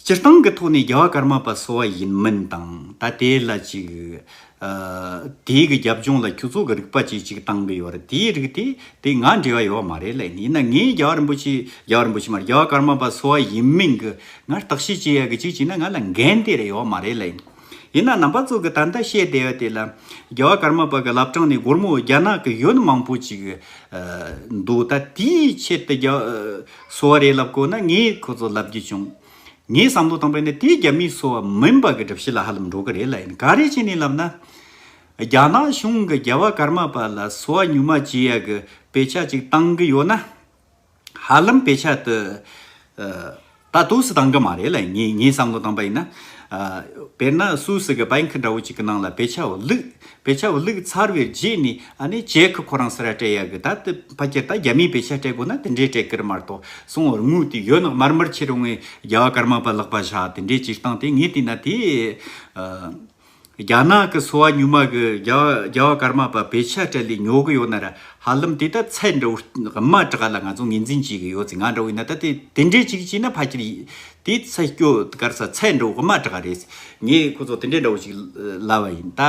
སྤྱིར་བཏང་གི་ཐོག་ནས་རྒྱ་བ་ཀརྨ་པ་སོ་བ་ཡིན་མིན་དང་ད་དེ་ལ་ཅིག། དེའི་གི་རྒྱབ་ལྗོངས་ལ་ཁྱོད་ཚོ་གི་རིག་པ་བཅས་ཅིག་བཏང་གི་ཡོད་རེད་དེའི་རིགས་དེ་དེ་ང་འབྲེལ་བ་ཡོད་བ་མ་རེད་ལ་ཡིན་ཡིན་ན་ངས་རྒྱ་བ་རིན་པོ་ཆེ་རྒྱ་བ་རིན་པོ་ཆེ་མ་རེད་རྒྱ་བ་ཀརྨ་པ་སོ་བ་ཡིན་མིན་གི་ང་བརྟག་དཔྱད་བྱེད་ཡ་གི་ཅིག་བྱས་ན་ང་ལ་འགན་དེ་རེད་ཡོད་བ་མ་རེད་ལ་ཡིན། ཡིན་ནའང་ནང་པ་ཚོ་གི་ད་ལྟ་བཤད་བསྡད་པ་དེ་ལ། རྒྱལ་བ་ཀརྨ་པ་གི་བླ་བྲང་ནས་སྒོར་མོ་རྒྱ་ནག་གི་ཡོད་མང་པོ་ཅིག་འདུག་ད་དེའི་ཆེད་དུ་གསོ་བ་རེད་ལབ་དགོས་ན་ངས་ཁོ་ཚོ་ལབ་རྒྱུ་བྱུང། ངས་བསམ་བློ་བཏང་པ་ནི་དེ་རྒྱ་མིས་གསོ་བ་མིན་པ་གི་སྒྲུབ་བྱེད་ལ་ཧ་ལམ་འགྲོ་གི་རེད་ལ་ཡིན་ག་རེ་བྱས་ནས་ལབ་ན། རྒྱ་ནག་གཞུང་གི་རྒྱལ་བ་ཀརྨ་པ་ལ་གསོ་བ་ཉུང་མ་བྱེད་ཡ་གི་དཔེ་ཆ་ཅིག་བཏང་གི་ཡོད་ན། ཧ་ལམ་དཔེ་ཆ་དེ། ད་དུ་སུ་དང་གི་མ་རེད་ལ་ངས་ངའི་བསམ་བློ་བཏང་པ་ཡིན་ན། དཔེར་ན་སུ་ཞིག་གི་བན་ཁི་འདྲ་བོ་ཅིག་གི་ནང་ལ་དཔེ་ཆ་བླུགས། དཔེ་ཆ་བླུགས་ཚར་བའི་རྗེས་ནས་ཨ་ནི་ཅེ་ཁི་ཁོ་རང་སུ་ར་སྤྲད་ཡག་གི་ད་དེ་ཕ་ཁྱེར་ད་རྒྱ་མིའི་དཔེ་ཆ་སྤྲད་དགོས་ན་དེ་འདྲས་སྤྲད་ཀིར་མ་གཏོགས་སོང་བར་དངུལ་དེ་ཡོད་ནག་མར་མར་ཕྱིར་འོང་བའི་རྒྱ་བ་ཀར་མ་པ་བརླག་པ་བཞག་དེ་འདྲས་ཅིག་བཏང་སྟེ་ངས་བལྟས་ན་དེ། རྒྱ་ནག་གི་སོ་བ་ཉུལ་མ་གི་རྒྱ་བ་སྐར་མ་པ་བེ་ཆ་ཏྲེ་ལི་ཉོ་གི་ཡོད་ན་ར་ཧ་ལམ་དེ་ད་ཚད་འདྲ་བོ་དབུ་མ་དྲ་ག་ལ་ང་ཚོ་ངེས་འཛིན་བྱེད་གི་ཡོད་ཚེ་ང་འདྲ་བོ་ཡིན་ན་ད་དེ་དེ་འདྲས་ཅིག་བྱས་ན་ཕ་ཁྱེར་ཡིན་དེ་ཚད་སྐྱོ་གར་ས་ཚད་འདྲ་བོ་དབུ་མ་དྲ་ག་རེད་ངས་ཁོ་ཚོ་དེ་འདྲས་འདྲ་བོ་ཞིག་ལབ་བ་ཡིན་ད།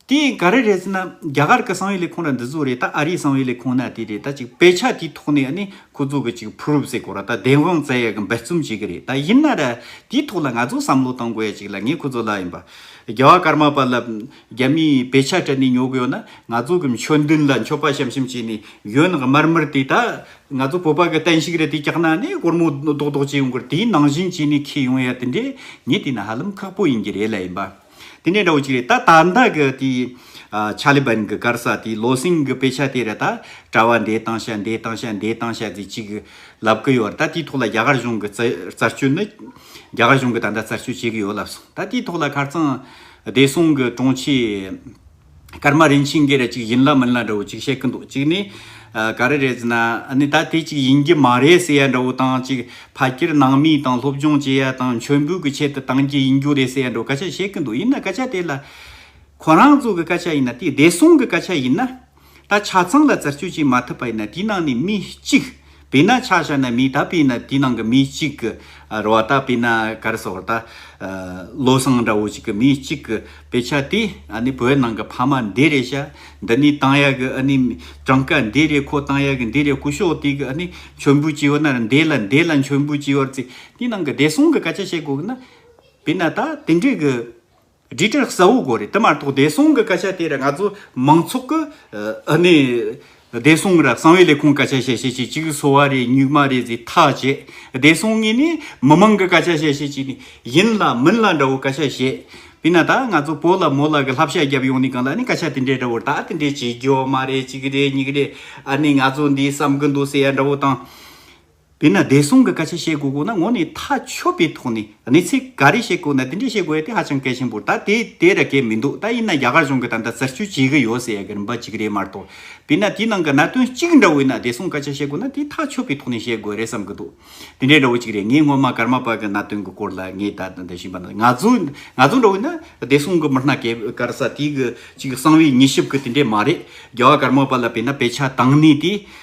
དེ་ག་རེ་རེད་ཟེར་ན་རྒྱ་གར་གི་གསང་བའི་ལས་ཁུངས་ར་འདི་ཚོ་རེད་ད་ཨ་རིའི་གསང་བའི་ལས་ཁུངས་ན་དེ་རེད་ད་ཅིག་དཔེ་ཆ་དེའི་ཐོག་ནས་ནི་ཁོ་ཚོ་གི་ཅིག་ཕུ་རུབ་སེ་གོ་ར་ད་བདེན་དབང་བཙལ་ཡ་གི་འབད་བརྩོམ་བྱེད་གི་རེད་ད་ཡིན་ན་ར་དེའི་ཐོག་ལ་ང་ཚོ་བསམ་བློ་གཏང་དགོས་ཡ་ཅིག་ལ་ངས་ཁོ་ཚོ་ལ་ཡིན་པ་རྒྱ་བ་ཀར་མ་པ་ལ་རྒྱ་མིས་དཔེ་ཆ་སྤྲད་ནས་ཉོ་གི་ཡོད་ན་ང་ཚོ་གི་མཆོད་མདུན་ལ་མཆོད་པ་ཤམ་ཤམ་བྱས་ནས་གཞོན་ནག་དམར་དམར་དེ་ད་ང་ཚོ་བོད་པ་གི་བསྟན་བཤིག་རེད་དེ་བཀྱག་ན་ནི་སྒོར་མོ་རྡོག་རྡོག་བྱས་ཡོང་གི་རེད་དེའི་ནང་བཞིན་བྱས་ནས་ཁེལ་ཡོང་ཡ་དེ་འདྲས་ངས་དེ་ན་ཧ་ལམ་ཁག་པོ་ཡིན་གྱི་རེད་ལ་ཡིན་པ། དེ་འདྲའི་འདྲ་བོ་གཅིག་རེད། ད་ད་ལྟ་གི་དེ་ཆ་ལི་བན་གི་སྒར་ས་དེ་ལོ་སིང་གི་དཔེ་ཆ་དེ་རེད་ད། གྲྭ་བ་འདས་བཏང་ཤ་འདས་བཏང་ཤ་འདས་བཏང་ཤ་ཟེ་གཅིག་ལབ་གི་ཡོད་རེད་ད་དེའི་ཐོག་ལ་རྒྱ་གར་གཞུང་གི་རྩར་གཅོད་ནི། རྒྱ་གར་གཞུང་གི་ད་ལྟ་རྩར་གཅོད་བྱེད་གི་ཡོད་ལབ་སོང་ད་དེའི་ཐོག་ལ་ཁར་ཙང་བདེ་སྲུང་གི་དྲུང་ཆེ། ཀརྨ་རིན་ཆེན་འགའི་རེ་གཅིག་ཡིན་ལ་མིན་ལ་འདྲ་བོ་གཅིག་བཤད་གི་འདུག་གཅིག་ནི། ག་རེ་རེད་ཟེར་ན་ནི་ད་དེ་གཅིག་ཡིན་གྱི་མ་རེད་ཟེར་ཡ་འདྲ་བོ་དང་གཅིག་ཕ་སྐྱེར་ནང་མི་དང་སློབ་སྦྱོང་བྱེད་ཡ་དང་མཆོད་འབུལ་གི་ཆེད་དུ་བཏང་རྒྱུ་ཡིན་རྒྱུ་རེད་ཟེར་ཡ་འདྲ་བོ་སྐད་ཆ་བཤད་གི་འདུག་ཡིན་ན་སྐད་ཆ་དེ་ལ། ཁོ་རང་ཚོ་གི་སྐད་ཆ་ཡིན་ན་དེ་བདེ་སྲུང་གི་སྐད་ཆ་ཡིན་ན། ད་ཆ་ཚང་ལ་བཙིར་གཅོད་བྱེད་མ་ཐུབ་པ་ཡིན་ན་དེའི་ནང་ནས་མི་གཅིག། བི་ན་ཆ་ཤ་ན་མི་ད་པི་ན་དེའི་ནང་གི་མི་གཅིག་གི་ར་བ་ད་པི་ན་གར་སོགས་ར་ད་བློ་བཟང་འདྲ་བོ་ཅིག་གི་མི་གཅིག་གི་བེ་ཆ་དེ་ཨ་ནི་བོད་ནང་གི་ཕ་མ་འདི་རེ་ཤ་འདི་ནི་ཏང་ཡ་གི་ཨ་ནི་གྲངས་ཀ་འདི་རེ་ཁོ་ཏང་ཡ་གི་འདི་རེ་སྐུ་ཤོག་དེ་གི་ཨ་ནི་མཆོད་འབུལ་བྱེད་ཡོ་ན་ར་འདི་ལ་འདི་ལ་མཆོད་འབུལ་བྱེད་ཡོ་ར་ཚེ་དེའི་ནང་གི་བདེ་སྲུང་གི་སྐད་ཆ་བཤད་དགོས་གི་ན་བི་ན་ད་དེ་འདྲའི་གི། སྦྲིད་དཀྲོལ་གསལ་བོ་དགོས་རེད་དེ་མ་གཏོགས་བདེ་སྲུང་གི་སྐད་ཆ་དེ་ར་ང་ཚོ་མང་ཚོགས་ཀྱི་གནས་བདེ་སྲུང་ར་གསང་བའི་ལས་ཁུངས་སྐད་ཆ་བཤད་བཤད་ཅིག་ཅིག་སོ་བ་རེད་སྨྱུག་མ་རེད་ཟེར་ཐག་བཅད་བདེ་སྲུང་ངེས་ནས་མི་མང་གི་སྐད་ཆ་བཤད་བཤད་ཅིག་ནས་ཡིན་ལ་མིན་ལ་འདྲ་བོ་སྐད་ཆ་བཤད་བས་ན་ད་ང་ཚོ་བོ་ལ་མོ་ལ་གི་ལྷ་བཤད་རྒྱབ་ཡོང་ནས་གང་ལ་ནས་སྐད་ཆ་དེ་འདྲས་འདྲ་བོ་ད་དེ་འདྲས་བྱེད་རྒྱོ་མ་རེད་ཅིག་རེད་སྙིགས་རེད་ཨ་ནས་ང་ཚོ་འདིས་བསམ་གི་འདུག་ཟེར་ཡ་འདྲ་བོ་དང། དེས་ན་བདེ་སྲུང་གི་སྐད་ཆ་བཤད་དགོས་དགོས་ན་ངོ་ནས་ཐག་ཆོད་པའི་ཐོག་ནས་གནས་ཚད་ག་རེ་བཤད་དགོས་ན་དེ་འདྲས་བཤད་དགོས་ཡ་དེ་ཧ་ཅང་གལ་ཆེན་པོ་རེད་ད་དེ་དེ་ར་གལ་མི་འདུག་ད་ཡིན་ན་རྒྱ་གར་གཞུང་གི་ད་ལྟ་བཙིར་གཅོད་བྱེད་གི་ཡོད་ཟེར་ཡ་གི་རིམ་པ་གཅིག་རེད་མ་གཏོགས་དེས་ན་དེའི་ནང་གི་གནད་དོན་གཅིག་འདྲ་བོའི་ནང་བདེ་སྲུང་སྐད་ཆ་བཤད་དགོས་ན་དེ་ཐག་ཆོད་པའི་ཐོག་ནས་བཤད་དགོས་རེད་བསམ་གི་འདུག་དེ་འདྲས་འདྲ་བོ་གཅིག་རེད་ངས་སྔོན་མ་ཀརྨ་པ་གི་གནད་དོན་གི་སྐོར་ལ་ངས་ད་འདི་བཞིན་པ་ནང་ང་ཚོ་ང་ཚོ་འདྲ་བོའི་ན་བདེ་སྲུང་གི་མི་སྣ་གས་ཀར་ས་དེའི་གི་གཅིག་གསང་བའི་ཉིས་ཞིབ་གི་དེ་འདྲས་མ་རེད་རྒྱ་བ་ཀརྨ་པ་ལ་བས་ན་དཔེ་ཆ་དང་ནས་དེ་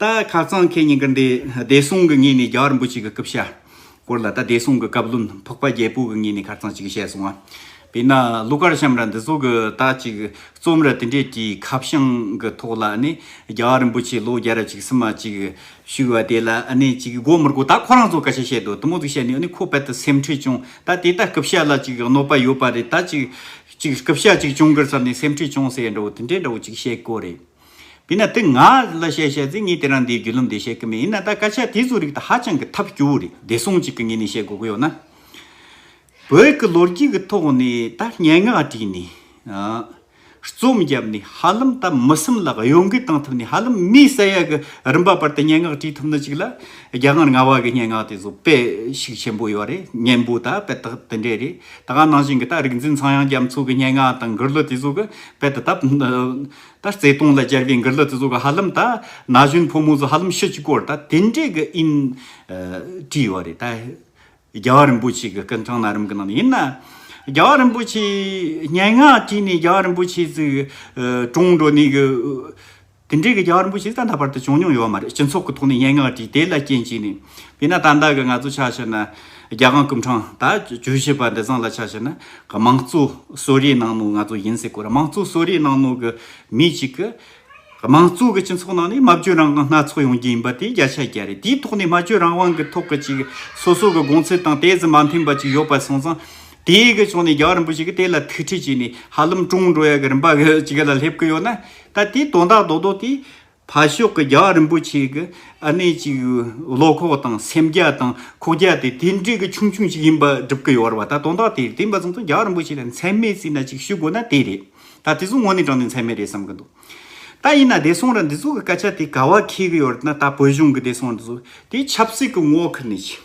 ད་ཁ་རྩང་ཁེ་གཉིས་ཀར་འདས་བདེ་སྲུང་གི་ངོས་ནས་རྒྱ་གར་འབུ་གཅིག་གི་སྐུ་ཕྱྭ་སྐོར་ལ་ད་བདེ་སྲུང་གི་བཀའ་བློན་ཕོག་པ་རྒྱལ་པོ་གི་ངོས་ནས་ཁ་རྩང་གཅིག་བཤད་སོང་བ། དཔེར་ན་གླུ་གར་བྱམས་ར་འདི་ཚོ་གི་ད་ཅིག་རྩོམ་ར་དེ་འདྲས་ཀྱི་ཁ་བྱང་གི་ཐོག་ལ་ནི་རྒྱ་གར་འབུ་ཆེ་ལོ་བརྒྱ་ར་གཅིག་སི་མ་གཅིག་བཞུགས་བ་དེ་ལ་ནི་ཅིག་དགོ་མི་དགོ་ད་ཁོ་རང་ཚོ་སྐད་ཆ་བཤད་དུ་དུ་མོ་ཟིག་བཤད་ནས་ནི་ཁོ་དཔལ་དུ་སེམས་ཁྲེལ་བྱུང་ད་དེ་ད་སྐུ་ཕྱྭ་ལ་ཅིག་གནོད་པ་ཡོད་པ་རེད་ད་ཅིག་ཅིག་སྐུ་ཕྱྭ་ཅིག་བྱུང་གི་ཟེར་ནས་སེམས་ཁྲེལ་བྱུང་ཟེར་ཡ་འདྲ་བོ་དེ་འདྲས་འདྲ་བོ་ཅིག་བཤད་དགོས་རེད། དེས་ན་དེ་ང་ལ་བཤད་བཤད་ཚེ་ངས་དེ་རང་འདིའི་རྒྱུད་ལམ་འདི་བཤད་གི་མེད་ཡིན་ན་ད་སྐད་ཆ་དེ་ཚོའི་རིགས་དང་ཧ་ཅང་གི་ཐབས་སྐྱོ་བོ་རེད་བདེ་སྲུང་ཅིག་གི་ངོས་ནས་བཤད་དགོས་ཀྱི་ཡོད་ན། བོད་ཀྱི་ལོ་རྒྱུས་ཀྱི་ཐོག་ནས་ད་སྙན་ངག་བྲིས་ནས། རྩོམ་བརྒྱབ་ནས་ཧ་ལམ་ད་མི་སེམས་ལ་གཡོ་འགུལ་བཏང་ཐུབ་ནས་ཧ་ལམ་མི་ས་ཡ་གི་རིམ་པ་བར་དུ་སྙན་ངག་བྲིས་ཐུབ་ན་ཅིག་ལ་རྒྱ་དངར་ང་བ་གི་སྙན་ངག་དེ་ཚོ་དཔེ་ཞིག་ཆེན་པོ་ཡོད་རེད་སྙན་པོ་ད་དཔེ་དག་དེ་འདྲས་རེད་ད་ག་ནང་བཞིན་གྱི་ད་རིག་འཛིན་ཚངས་དབྱངས་རྒྱ་མཚོ་གི་སྙན་ངག་དང་མགུར་གླུ་དེ་ཚོ་གི་དཔེ་དེ་ད། ད་བརྩེ་དུང་ལ་སྦྱར་བའི་འགུར་ལ་ཙི་ཙོ་ག་ཧ་ལམ་ད། ན་གཞོན་ཕོ་མོ་ཚོ་ཧ་ལམ་ཤི་ཅི་སྐོར་ད་དེ་འདྲས་གི་ཨིན། བྲིས་ཡོད་རེད་ད། རྒྱལ་བ་རིན་པོ་ཆེ་གི་སྐུ་མཚང་ན་རམ་གི་ནང་ནས་ཡིན་ན། རྒྱལ་བ་རིན་པོ་ཆེ། སྙན་ངག་བྲིས་ནས་རྒྱལ་བ་རིན་པོ་ཆེ་ཚོས། གྲོངས་འགྲོ་ནས་གི། དེ་འདྲས་གི་རྒྱལ་བ་རིན་པོ་ཆེ་ད་ད་བར་དུ་བྱུང་མྱོང་ཡོད་མ་རེད་སྤྱི་ཚོགས་གི་ཐོག་ནས་སྙན་ངག་བྲིས་དེ་ལ་རྐྱེན་བྱས་ནས། དེས་ན་ད་ལྟ་གི་ང་ཚོ་ཆ་ཤས་ན། རྒྱ་གང་ཀུན་དྲང་ད་བྱོས་བྱས་པ་འདི་ཚང་ལ་ཆ་བྱས་ན་དམངས་གཙོ་གསོ་རའི་ནང་ནོ་ང་ཚོ་ཡིན་ཟེར་དགོས་ར་དམངས་གཙོ་གསོ་རའི་ནང་ནོ་གི་མི་གཅིག་གི་དམངས་གཙོ་གི་སྤྱི་ཚོགས་ནང་ནས་སྨྲ་བརྗོད་རང་དབང་སྣ་ཚོགས་ཡོང་རྒྱུ་ཡིན་པ་དེ་བརྒྱ་ཆ་བརྒྱ་རེད་དེའི་ཐོག་ནས་སྨྲ་བརྗོད་རང་དབང་གི་ཐོག་གི་ཅིག་སོ་སོ་གི་དགོངས་ཚུལ་དང་དེ་ཙམ་མ་མཐུན་པ་ཅིག་ཡོད་པ་སོང་ཙང་དེ་གི་ཕྱོགས་ནས་རྒྱ་གར་རིན་པོ་ཆེ་གི་དེ་ལ་ཐུགས་ཁྲེལ་བྱས་ནས་ཧ་ལམ་ཀྲུང་འགྲོ་ཡ་གི་རིན་པ་གི་ཅིག་ལ་སླེབས་ཀི་ཡོད་ན་ད་དེ་དོན་དག་རྡོག་རྡོག་དེ། ཕར་ཕྱོགས་ཀྱི་རྒྱ་བ་རིན་པོ་ཆེ་གི་ཨ་ནེ་གཅིག་བློ་ཁོག་དང་སེམས་རྒྱ་དང་ཁོག་རྒྱ་དེ་དེ་འདྲའི་གི་ཆུང་ཆུང་ཞིག་ཡིན་པ་སྒྲུབ་གི་ཡོད་རེད་པ་ད་དོན་དག་དེ་དེ་འབའ་ཚང་ཚང་རྒྱ་བ་རིན་པོ་ཆེ་ལ་མཚན་མེད་བརྩིས་ན་ཅིག་ཞུ་དགོས་ན་དེ་རེད་ད་དེ་ཚོ་ངོ་ནས་དྲང་ནས་མཚན་མེད་རེད་བསམ་གི་འདུག་ད་ཡིན་ན་བདེ་སྲུང་ར་འདི་ཚོ་གི་སྐད་ཆ་དེ་ག་བ་འཁེལ་གི་ཡོད་རེད་ན་ད་བོད་གཞུང་གི་བདེ་སྲུང་ར་འདི་ཚོ་དེ་ཆབ་སྲིད་ཀྱི་ངོ་ཁུར་ནས་ཅིག།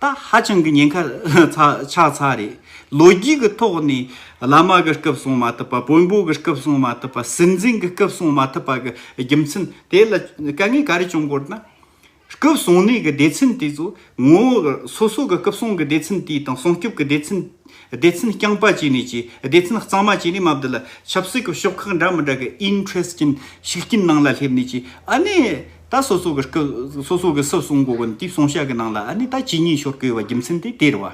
ད་ཧ་ཅང་གི་ཉེན་ཁ་ཆགས་ཚར་རེད། ལོ་རྒྱུས་ཀྱི་ཐོག་ནས་བླ་མ་གི་སྐབས་སྲུང་མ་ཐུབ་པ་དཔོན་པོ་གི་སྐབས་སྲུང་མ་ཐུབ་པ་སྲིད་འཛིན་གྱི་སྐབས་སྲུང་མ་ཐུབ་པ་གི་རྒྱུ་མཚན་དེ་ལ་དཀའ་ངལ་ག་རེ་བྱུང་དགོས་ན། སྐབས་སྲུང་གནས་ཀྱི་སྡེ་ཚན་དེ་ཚོ་ངོ་སོ་སོ་གི་སྐབས་སྲུང་གི་སྡེ་ཚན་དེ་དང་སྲུང་སྐྱོབ་ཀྱི་སྡེ་ཚན་སྡེ་ཚན་རྐྱང་པ་བྱས་ནས་ཀྱི་སྡེ་ཚན་གཙང་མ་བྱས་ནས་མ་བསྡུ་ལ་ཆབ་སྲིད་ཀྱི་ཕྱོགས་ཁག་འདྲ་མི་འདྲ་གི interest ཀྱི་ཤུགས་རྐྱེན་ནང་ལ་སླེབས་ནས་ཀྱི་ཨ་ནེ། ད་སོ་སོ་གི་སྐུ། སོ་སོ་གི་སྲིད་གསུམ་སྒོ་ཀུན་དུས་གསུང་བཤད་ཀྱི་ནང་ལ་ནི་ད་ཇི་སྙེད་ཤོར་གོས་བ་རྒྱུ་མཚན་དེ་དེར་བ།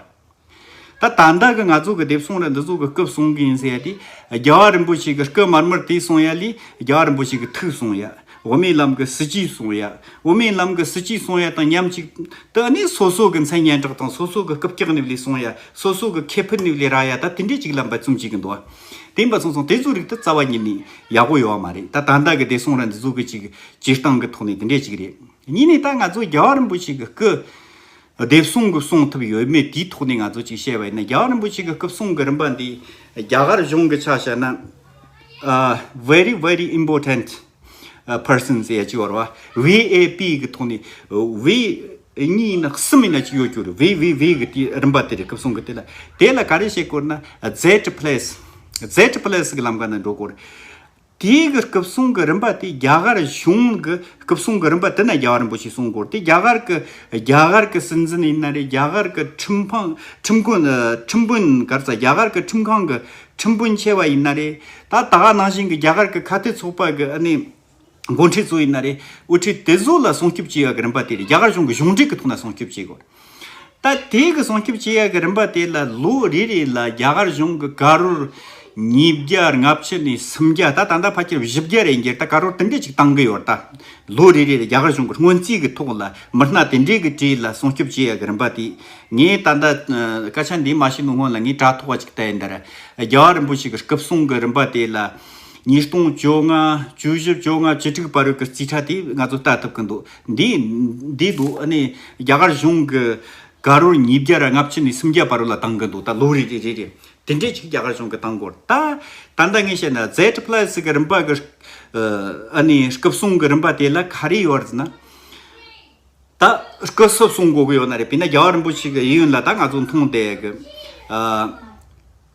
ད་ད་ལྟ་གི་ང་ཚོ་གི་དེབ་གསུང་ར་འདི་ཚོ་གི་སྐུ་གསུང་གི་ཡིན་ཟེར་ཡ་དེ། རྒྱལ་བ་རིན་པོ་ཆེ་གི་སྐུ་མར་མར་དེ་གསུང་ཡ་ལས་རྒྱལ་བ་རིན་པོ་ཆེ་གི་ཐུགས་གསུང་ཡ། འོ་མའི་ལམ་གི་སྲིད་ཇུས་གསུང་ཡ། འོ་མའི་ལམ་གི་སྲིད་ཇུས་གསུང་ཡ་དང་མཉམ་གཅིག་ཏུ་ནི་སོ་སོ་གི་མཚན་སྙན་གྲགས་དང་སོ་སོ་གི་སྐུ་བཀྱག་ནི་ལས་གསུང་ཡ། སོ་སོ་གི་ཁེ་ཕུད་ནི་ལས་རག་ཡ་ད་དེ་འདྲས་ཅིག་ལ་འབད་བརྩོན་བྱེད་ཀྱི་འདུག་བ། དེ་འབད་བརྩོན་སོང་དེ་ཚོའི་རིགས་ད་རྩ་བ་ཉིད་ནས་ཡག་པོ་ཡོད་བ་མ་རེད་ད་ད་ལྟ་གི་དེབ་གསུང་ར་འདི་ཚོ་གི་ཅིག་སྤྱིར་བཏང་གི་ཐོག་ནས་དེ་འདྲས་ཅིག་རེད། གཉིས་ནས་ད་ང་ཚོ་རྒྱལ་བ་རིན་པོ་ཆེ་གི་སྐུ། དེབ་གསུང་གི་གསུང་ཐུབ་ཡོད་མེད་དེའི་ཐོག་ནས་ང་ཚོ་ཅིག་བཤད་པ་ཡིན་ན་རྒྱལ་བ་རིན་པོ་ཆེ་གི་སྐུ་གསུང་གི་རིམ་པ་འདི། རྒྱ་གར་གཞུང་གི་ཆ་བཤད་ན། Very Very Important Persons ཡ་ཅིག་བར་བ། VAP གི་ཐོག་ནས། བི། གཉིས་ཡིན་ན་གསུམ་ཡིན་ན་ཅིག་ཡོད་རྒྱུ་རེད་བི་བི་བི་གི་དེ་རིམ་པ་དེ་རེད་སྐུ་གསུང་གི་དེ་ལ། དེ་ལ་ག་རེ་བྱེད་དགོས་ན། Zed Place Zed Place གི་ལམ་ཀ་ན་འགྲོ་དགོས་རེད། དེའི་གི་སྐུ་གསུང་གི་རིམ་པ་དེ་རྒྱ་གར་གཞུང་གི་སྐུ་གསུང་གི་རིམ་པ་དེ་ན་རྒྱ་བ་རིན་པོ་ཆེ་གསུང་སྐོར་དེ་རྒྱ་གར་གི་རྒྱ་གར་གི་སྲིད་འཛིན་ཡིན་ན་རེད་རྒྱ་གར་གི་ཁྲིམས་ཕང་ཁྲིམས་ཁུ་ཁྲིམས་དཔོན་གར་ཚ་རྒྱ་གར་གི་ཁྲིམས་ཁང་གི་ཁྲིམས་དཔོན་ཆེ་བ་ཡིན་ན་རེད་ད་ད་ག་ནང་བཞིན་གི་རྒྱ་གར་གི་ཁ་བརྡའི་ཚོགས་པ་གི་ཨ་ནི་མགོ་འཁྲིད་ཚོ་ཡིན་ན་རེད་དབུ་ཁྲིད་དེ་ཚོ་ལ་སྲུང་སྐྱོབ་བྱེད་ཡ་གི་རིམ་པ་དེ་རེད་རྒྱ་གར་གཞུང་གི་གཞུང་འབྲེལ་གི་ཐོག་ན་སྲུང་སྐྱོབ་བྱེད་དགོས། ལྟ། དེ་གི་སྲུང་སྐྱོབ་བྱེད་ཡག་གི་རིམ་པ་དེ་ལ་ལོ་རེ་རེ་ལ་རྒྱ་གར་གཞུང་གི་ཀ་རོར་ཉིས་བརྒྱ་ལྔ་བཅུ་ནས་སུམ་བརྒྱ་ད་ད་ལྟ་ཕ་ཁྱིར་བཞི་བརྒྱ་རེ་འགྱེར་ལྟ་ཀ་རོར་དེ་འདྲས་ཅིག་གཏང་གི་ཡོད་ལྟ། ལོ་རེ་རེ་ལ་རྒྱ་གར་གཞུང་གི་སྔོན་རྩིས་ཀྱི་ཐོག་ལ་མི་སྣ་དེ་འདྲས་ཀྱི་གྲས་ལ་སྲུང་སྐྱོབ་བྱེད་ཡག་གི་རིམ་པ་དེ། ངས་ད་ལྟ་སྐད་ཆ་འདི་མ་ཤེས་མིན་སྔོན་ལ་ངས་དྲ་ཐོག་བ་ཅིག་བལྟས་འདིར། རྒྱལ་བ་རིན་པོ་ཆེ་གི་སྐུ་གསུང་གི་རིམ་པ་དེ་ལ་ཉིས་སྟོང་བཅོ་ལྔ་བཅུ་བཞི་བཅོ་ལྔ་བཅུ་དྲུག་པ་རུ་གི་རྩིས་ཁྲ་དེ་ང་ཚོས་བལྟ་ཐུབ་ཀྱི་འདུག། འདི། འདི་འདུག་ཨ་ནི་རྒྱ་གར་གཞུང་གི། ག་རུར་ཉིས་བརྒྱ་ར་ལྔ་བཅུ་ནས་སུམ་བརྒྱ་བར་རུ་ལ་བཏང་གི་འདུག་ད་ལོ་རེ་རེ་རེ་རེ། དེ་འདྲས་ཅིག་རྒྱ་གར་གཞུང་གི་བཏང་སྐོར་ད། ད་ལྟ་ངས་བཤད་ན Zed Plus གི་རིམ་པ་གི། ཨ་ནི་སྐུབ་སྲུང་གི་རིམ་པ་དེ་ལ་ག་རེ་ཡོད་རེད་ན། ད་སྐུ་སྲུབ་སྲུང་དགོས་གི་ཡོད་ན་རེད་དཔེར་ན་རྒྱལ་བ་རིན་པོ་ཆེ་གི་ཡིད་ཡུན་ལ་ད་ང་ཚོ་མཐོང་བསྡད་གི།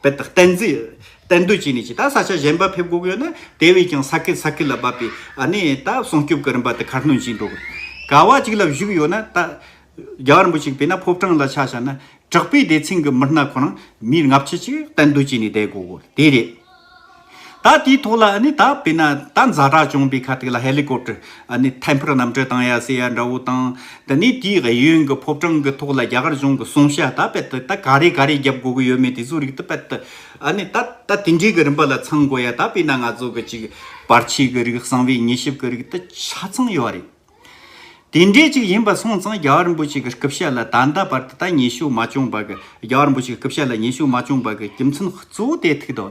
དཔེ་དག་གཏན་རྫས་གཏན་སྡོད་བྱས་ནས་ཀྱི་ད་ས་ཆ་གཞན་པ་ཕེབས་དགོས་ཡོད་ན་དེ་བས་ཀྱང་ས་ཁད་ས་ཁད་ལ་བབས་པའི་ཨ་ནི་ད་སྲུང་སྐྱོབ་ཀྱི་རིམ་པ་དེ་ཁ་སྣོན་བྱས་འགྲོ་དགོས། ག་བ་གཅིག་ལ་བཞུགས་ཡོད་ན་ད་རྒྱ་གར་འབུ་གཅིག་བས་ན་ཕོབ་གྲངས་ལ་ཆ་བྱ་ན་དྲག་པའི་སྡེ་ཚན་གྱི་མི་སྣ་ཁོ་རང་མིའི་ལྔ་བཅུ་ཅིག་གཏན་སྡོད་བྱས་ནས་བསྡད་དགོས་དགོས་དེ་རེད། ད་དེའི་ཐོག་ལ་ནི་ད་བས་ན་ད་འཛའ་དྲག་བྱུང་བའི་ཁ་ཐུག་ལ་ཧེ་ལི་ཀོབ་ཏེར་ནི་ཐལ་འཕུར་གནམ་གྲུ་དང་ཡ་སེ་ཡ་འདྲ་བོ་དང། ད་ནི་དེའི་ཨེ་ཡོན་གྱི་ཕོབ་གྲངས་གྱི་ཐོག་ལ་རྒྱ་གར་གཞུང་གི་གསུང་བཤད་ད་བས་ཏེ་ད་ག་རེ་ག་རེ་རྒྱབ་དགོས་ཀྱི་ཡོད་མེད་དེ་ཚོའི་རིགས་ད་བས་ཏེ་ནི་ད་ད་དེ་འདྲའི་གི་རིམ་པ་ལ་ཚང་དགོས་ཡ་ད་བས་ན་ང་ཚོ་གི་ཅིག་བར་ཆད་གྱི་རིགས་གསང་བའི་ཉེས་ཞིབ་གྱི་རིགས་ད་ཆ་ཚང་ཡོད་རེད། དེ་འདྲའི་ཅིག་ཡིན་པ་སོང་ཙང་རྒྱ་གར་འབུ་ཅིག་གི་སྐུ་བཤད་ལ་ད་ད་བར་ཏེ་ད་ཉེས་ཞུགས་མ་བྱུང་བ་གི་རྒྱ་གར་འབུ་ཅིག་གི་སྐུ་བཤད་ལ་ཉེས་ཞུགས་མ་བྱུང་བ་གི་རྒྱུ་མཚན་གཙོ་བོ་དེ་ཐིག་དོ།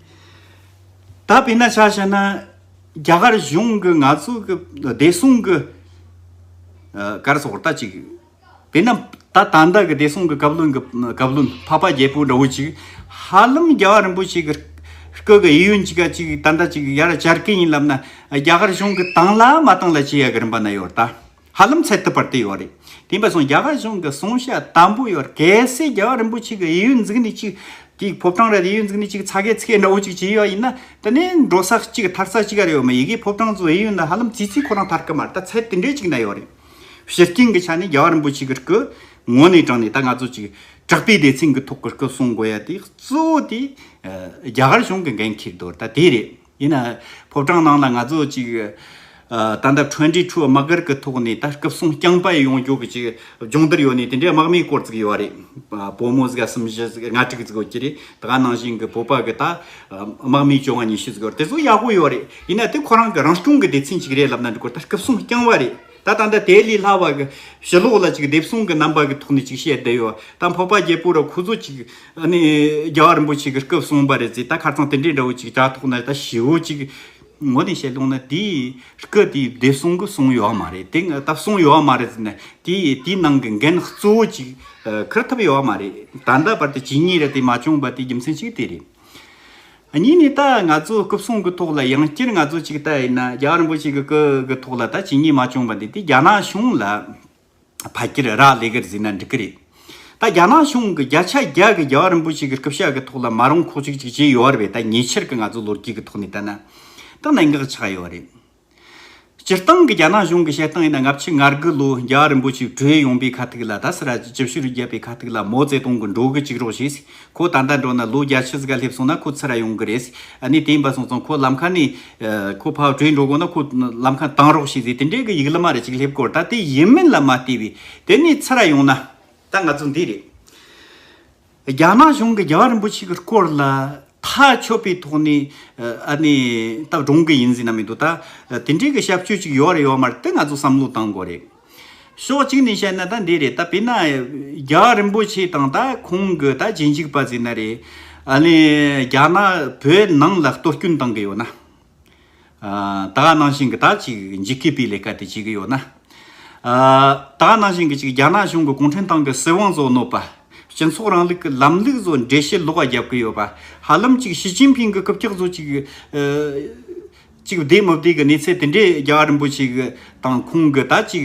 ད་དཔེར་ན་ཆ་བྱས་ན་རྒྱ་གར་གཞུང་གི་ང་ཚོ་གི་བདེ་སྲུང་གི་སྐར་སོགས་ལྟ་ཅིག་དཔེར་ན་ད་ད་ལྟ་གི་བདེ་སྲུང་གི་བཀའ་བློན་བཀའ་བློན་འཕགས་པ་རྒྱལ་པོ་འདྲ་བོ་ཅིག་ཧ་ལམ་རྒྱལ་བ་རིན་པོ་ཆེ་གི་སྐུ་གི་དབྱིན་ཡུལ་གྱི་སྐད་ཅིག་ད་ལྟ་ཅིག་ཡར་བསྐྱར་སྐད་ཡིན་ལབ་ན་རྒྱ་གར་གཞུང་གི་དང་ལ་མ་དང་ལ་བྱེད་ཡ་གི་རིན་པ་ན་ཡོད་ད། ཧ་ལམ་ཚད་ཐུབ་པར་བལྟས་ཡོད་རེད། དེ་འབའ་སོང་རྒྱ་གར་གཞུང་གི་གསུང་བཤད་དམ་པོ་ཡོད་རེད་གལ་སྲིད་རྒྱལ་བ་རིན་པོ་ཆེ་གི་ཡིད་ཡུལ་འཛིག་ནི་ཅིག་དེའི་ཕོབ་གྲངས་རེད་ཡིད་ཡུལ་འཛིག་ནི་ཅིག་ཚ་གས་ཚིག་གས་འདྲ་བོ་ཅིག་བྱས་ཡོད་ཡིན་ན་དེ་ནི་འགྲོ་ས་གཅིག་ཐར་ས་གཅིག་ག་རེ་ཡོད་མ་ཡི་གེའི་ཕོབ་གྲངས་སུ་ཡིད་ཡུལ་འདི་ཧ་ལམ་བྱིས་བྱིས་ཁོ་རང་ཐར་གི་མ་རེད་ད་ཚད་དེ་འདྲའི་ཅིག་ན་ཡོད་རེད། ཤི་རྐྱེན་གི་ཆ་ནས་རྒྱལ་བ་རིན་པོ་ཆེ་གི་སྐུ་ངོ་ནས་དྲངས་ནས་ད་ང་ཚོ་ཅིག་དྲག་པའི་སྡེ་ཚན་གི་ཐོག་གི་སྐུ་གསུང་དགོས་ཡ་དེ་གཙོ་བོ་དེ་རྒྱ་གར་གཞུང་གི་འགན་འཁྱེར་དོར་ད་དེ་རེད། ཡིན་ན། ཕོ་བྲང་ནང་ལ་ང་ཚོ་ཅིག་ད་ལྟ Twenty Two དམག་སྒར་གི་ཐོག་ནས་ད་སྐབས་སྲུང་སྐྱང་པ་ཡི་ཡོང་རྒྱུག་གི་ཅིག་སྦྱོང་བསྡུར་ཡོད་ནས་དེ་འདྲའི་དམག་མིའི་སྐོར་ཙིག་ཡོད་རེད། བོད་མོ་ཟིག་གསུམ་བཞི་ཟིག་ལྔ་དྲུག་ཟིག་ཡོད་ཀྱི་རེད། དེ་ག་ནང་བཞིན་གི་བོད་པ་གི་ད་དམག་མིའི་བཅོ་ལྔ་ཉི་ཤུ་ཟིག་ཡོད་རེད་དེ་ཚོ་ཡག་པོ་ཡོད་རེད། ཡིན་ན་དེ་ཁོ་རང་གི་རང་སྐྱོང་གི་སྡེ་ཚན་ཅིག་རེད་ལབ་ན་འགྲིག་གོ་ད་སྐབས་སྲུང་སྐྱང་བ་རེད། ད་ལྟ་འདི་དེ་ལས་སླ་བ། ཞི་ལོག་ལ་ཅིག་སྡེབ་སྲུང་གི་རྣམ་པ་གི་ཐོག་ནས་ཅིག་བཤད་བསྡད་ཡོད། ད་འཕགས་པ་རྒྱལ་པོ་ར་ཁུ་ཚུར་ཅིག། རྒྱལ་བ་རིན་པོ་ཆེ་གི་སྐབས་གསུངས་པ་རེད་ཟེར་ད་ཁར་ཚང་དེ་འདྲའི་འདྲ་བོ་ཅིག་དྲ་ཐོག་ན་ད་ཞི་བོ་ཅིག། ངོ་ནས་བཤད་ལུགས་ན་དེའི་སྐབས་དེའི་སྡེབ་སྲུང་གི་གསུངས་ཡོད་མ་རེད་དེ་ད་གསུངས་ཡོད་མ་རེད་ཟེར་ན་དེ་དེའི་ནང་གི་འགན་གཙོ་བོ་ཅིག་ཁུར་ཐུབ་ཡོད་མ་རེད། ད་ལྟ་བར་དུ་ཇི་སྙེད་རེད་དེ་མ་བྱུང་བ་དེའི་རྒྱུ་མཚན་གཅིག་དེ་རེད། གཉིས་ནས་ད་ང་ཚོ་སྐུ་སྲུང་གི་ཐོག་ལ་ཡང་བསྐྱར་ང་ཚོ་ཅིག་ལྟ་ཡིན་ན་རྒྱ་རིན་པོ་ཆེ་གི་སྐུ་གི་ཐོག་ལ་ད་ཇི་སྙེད་མ་བྱུང་བ་འདི་དེ་རྒྱ་ནག་གཞུང་ལ་ཕ་ཁྱེར་རག་ལས་ཀར་གཟིགས་ན་འགྲིག་གི་རེད། ད་རྒྱ་ནག་གཞུང་གི་བརྒྱ་ཆ་བརྒྱ་གི་རྒྱ་རིན་པོ་ཆེ་གི་སྐུ་ཞབས་གི་ཐོག་ལ་མ་རུང་ཁོག་ཅིག་ཅིག་བྱས་ཡོད་བ་རེད་ད་ཉེ་ཆར་གི་ང་ཚོ་ལོ་རྒྱུས་གི་ཐོག་ནས་ལྟ་ན་ད་གནད་འགག་ཆགས་ཡོད་བ་རེད། སྤྱིར་བཏང་གི་རྒྱ་ནག་གཞུང་གི་བཤད་སྟངས་ཡིན་ན་སྔ་ཕྱི་ངར་དགུ་ལོའི་རྒྱ་རིང་པོ་ཞིག་བྲོས་ཡོང་པའི་ཁ་ཐུག་ལ་ད་སི་ར་ཅི་ཇི་བཞིན་རུ་བརྒྱབ་པའི་ཁ་ཐུག་ལ་མོ་རྩེ་སྟོང་གི་འགྲོ་གི་ཅིག་རོགས་ཞེས་ཁོ་ད་ལྟ་འགྲོ་ན་ལོ་བརྒྱ་ཕྱི་ཟིག་ག་སླེབས་སོང་ན་ཁོ་ཚུར་ར་ཡོང་གི་རེད་ཨ་ནི་དེ་འབའ་སོང་ཙང་ཁོ་ལམ་ཁ་ནས་ཁོ་ཕ་བྲོས་འགྲོ་དགོས་ན་ཁོ་ལམ་ཁ་དྭངས་རོགས་ཞེས་ཟེར་དེ་འདྲའི་གི་ཡིག་ལི་མ་རེ་ཅིག་སླེབས་དགོས་ད་དེ་ཡིན་མིན་ལ་མ་ལྟོས་བས་དེ་ནས་ཚུར་ར་ཡོང་ན་ད་ང་ཚོ་འདི་རེད། རྒྱ་ནག་གཞུང་གིས་རྒྱལ་བ་རིན་པོ་ཆེ་གི་སྐོར་ལ་ཐག་ཆོད་པའི་ཐོག་ནས་ཨ་ནི་ད་བགྲོང་གི་ཡིན་ཟེར་ན་མི་འདུག་ད་དེ་འདྲའི་གི་ཤབ་ཆོས་ཅིག་ཡོད་རེད་ཡོད་མ་རེད་དེ་ང་ཚོ་བསམ་བློ་གཏང་དགོས་རེད། ཕྱོགས་གཅིག་ནས་བཤད་ན་ད་འདི་རེད་ད་བེད་ན་རྒྱལ་བ་རིན་པོ་ཆེ་དང་ད་ཁོང་གི་ད་རྗེས་འཇུག་པ་ཟེར་ན་རེད་ཨ་ནི་རྒྱ་ནག་བོད་ནང་ལ་གཏོར་སྐྱོན་གཏང་གི་ཡོད་ན། ད་ག་ནང་བཞིན་གྱི་ད་ཅིག་འཇིགས་སྐུལ་པའི་ལས་ཀ་དེ་བྱེད་ཀྱི་ཡོད་ན། ད་ག་ནང་བཞིན་གྱི་ཅིག་རྒྱ་ནག་གཞུང་གི་གུང་ཁྲན་ཏང་གི་སྲིད་དབང་བཟོ་ནོར་པ། སྤྱི་ཚོགས་རིང་ལུགས་ཀྱི་ལམ་ལུགས་བཟོ་འདྲེ་བྱེད་ལོག་པ་རྒྱབ་ཀྱི་ཡོད་པ། ཧ་ལམ་ཅིག་ཞི་ཅིན་ཕིང་གི་སྐུ་ཕྱག་བཟོ་ཅིག། ཅིག་བདེ་མི་བདེ་གི་གནས་ཚད་དེ་འདྲའི་རྒྱ་གར་རིན་པོ་ཆེ་གི་དང་ཁོང་གི་ད་ཅིག་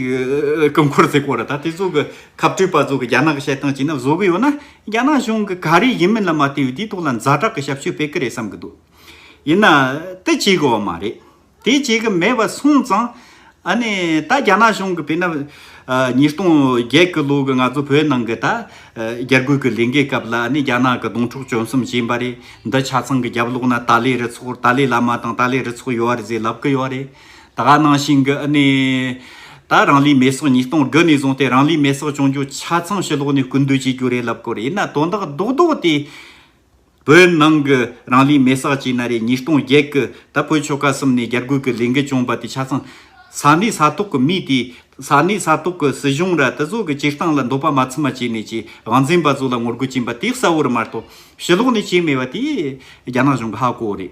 སྐུ་འཁོར་ཟེར་སྐོར་ལ་ད་དེ་ཚོ་གི་ཁ་བྲོས་པ་ཚོ་གི་རྒྱ་ནག་གི་བཤད་སྟངས་བྱས་ན་བཟོ་གི་ཡོད་ན་རྒྱ་ནག་གཞུང་གི་ག་རེ་ཡིན་མིན་ལ་མ་བལྟས་བའི་དེའི་ཐོག་ལ་མཛའ་གྲགས་ཀྱི་ཞབས་ཞུ་སྤེལ་གི་རེད་བསམ་གྱི་འདུག། ཡིན་ན་དེ་བྱེད་དགོས་པ་མ་རེད། དེ་བྱེད་ཀྱི་མེད་པ་སོང་ཙང། ཨ་ནི་ད་རྒྱ་ནག་གཞུང་གི་བེ་ན། ཉིས་སྟོང་བརྒྱད་ཀྱི་ལོ་གི་ང་ཚོ་བོད་ནང་གི་ད། རྒྱ་རྒོལ་གྱི་ལས་འགན་སྐབས་ལ་ཨ་ནི་རྒྱ་ནག་གི་སྡོང་ཕྲུག་བཅོམ་གསུམ་བྱིན་པ་རེད། འདི་ཆ་ཚང་གི་རྒྱབ་ལོག་ན་ཏཱ་ལའི་རུ་ཚོགས་ཏཱ་ལའི་བླ་མ་དང་ཏཱ་ལའི་རུ་ཚོགས་ཡོད་རེད་ཟེར་ལབ་ཀྱི་ཡོད་རེད། ད་ག་ནང་བཞིན་གྱི་ཨ་ནི། ད་རང་ལུས་མེ་སྲོག་ཉིས་སྟོང་དགུ་ནས་བཟུང་སྟེ་རང་ལུས་མེ་སྲོག་བྱུང་རྒྱུ་ཆ་ཚང་ཕྱི་ལོག་ནས་སྐུར་འདོད་བྱེད་རྒྱུ་རེད་ལབ་ཀྱི་རེད་ཡིན་ན་དོན་དག་རྡོག་རྡོག་དེ། བོད་ནང་གི་རང་ལུས་མེ་སྲེག་བྱས་ན་རེ་ཉིས་སྟོང་བརྒྱད་ཀྱི་ཟླ་ཕོད་ཆོལ་ཁ་གསུམ་ནས་རྒྱ་རྒོལ་གྱི་ལས་འགུལ་བྱུང་བ་དེ་ཆ་ཚང། ས་གནས་ས་ཐོག་གི་མི་དེས་ས་གནས་ས་ཐོག་གི་སྲིད་གཞུང་ར་ཏི་ཚོ་གི་སྤྱིར་བཏང་ལ་འདོད་པ་མ་ཚིམ་མ་བྱས་ནས་ཀྱི་དབང་འཛིན་པ་ཚོ་ལ་ངོ་རྒོལ་བྱིན་པ་དེ་གསལ་བོ་རེད་མ་གཏོགས་ཕྱི་ལོགས་ནས་བྱས་མེད་པ་དེ་རྒྱ་ནག་གཞུང་གི་ཧ་གོ་བོ་རེད།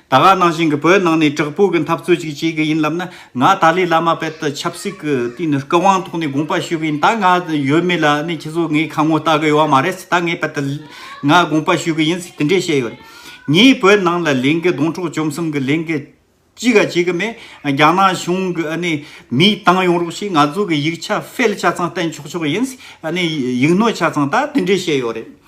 ད་སྔ་ནང་བཞིན་གྱི་བོད་ནང་ནས་དྲག་པོའི་གྱི་འཐབ་རྩོད་ཅིག་བྱེད་གྱི་ཡིན་ལབ་ན་ང་ཏཱ་ལའི་བླ་མ་དཔལ་ལྟར་ཆབ་སྲིད་ཀྱི་དུས་ནས་སྐུ་དབང་ཐོག་ནས་དགོངས་པ་ཞུས་པ་ཡིན་ད་ང་ཡོད་མེད་ལ་ནི་ཁྱེད་ཚོ་ངའི་ཁ་ངོ་ལྟ་གི་ཡོད་མ་རེད་ད་ངས་དཔལ་ལྟར་ང་དགོངས་པ་ཞུས་གྱི་ཡིན་དེ་འདྲས་བཤད་ཡོད། ངས་བོད་ནང་ལ་ལན་གྱི་སྡོང་ཕྲོག་བཅོམ་གསུམ་གྱི་ལན་གྱི་ཅི་ག་བྱེད་གྱི་མེད་རྒྱ་ནག་གཞུང་གི་ནི་མིའི་བཏང་ཡོང་རོགས་ཞེས་ང་ཚོ་གྱི་ཡིག་ཆ་ཕལ་ཆ་ཚང་བསྟན་ཆོག་ཆོག་ཡིན་ནི་ཡིག་སྣོད་ཆ་ཚང་ད་དེ་འདྲས་བཤད་ཡོད་རེད།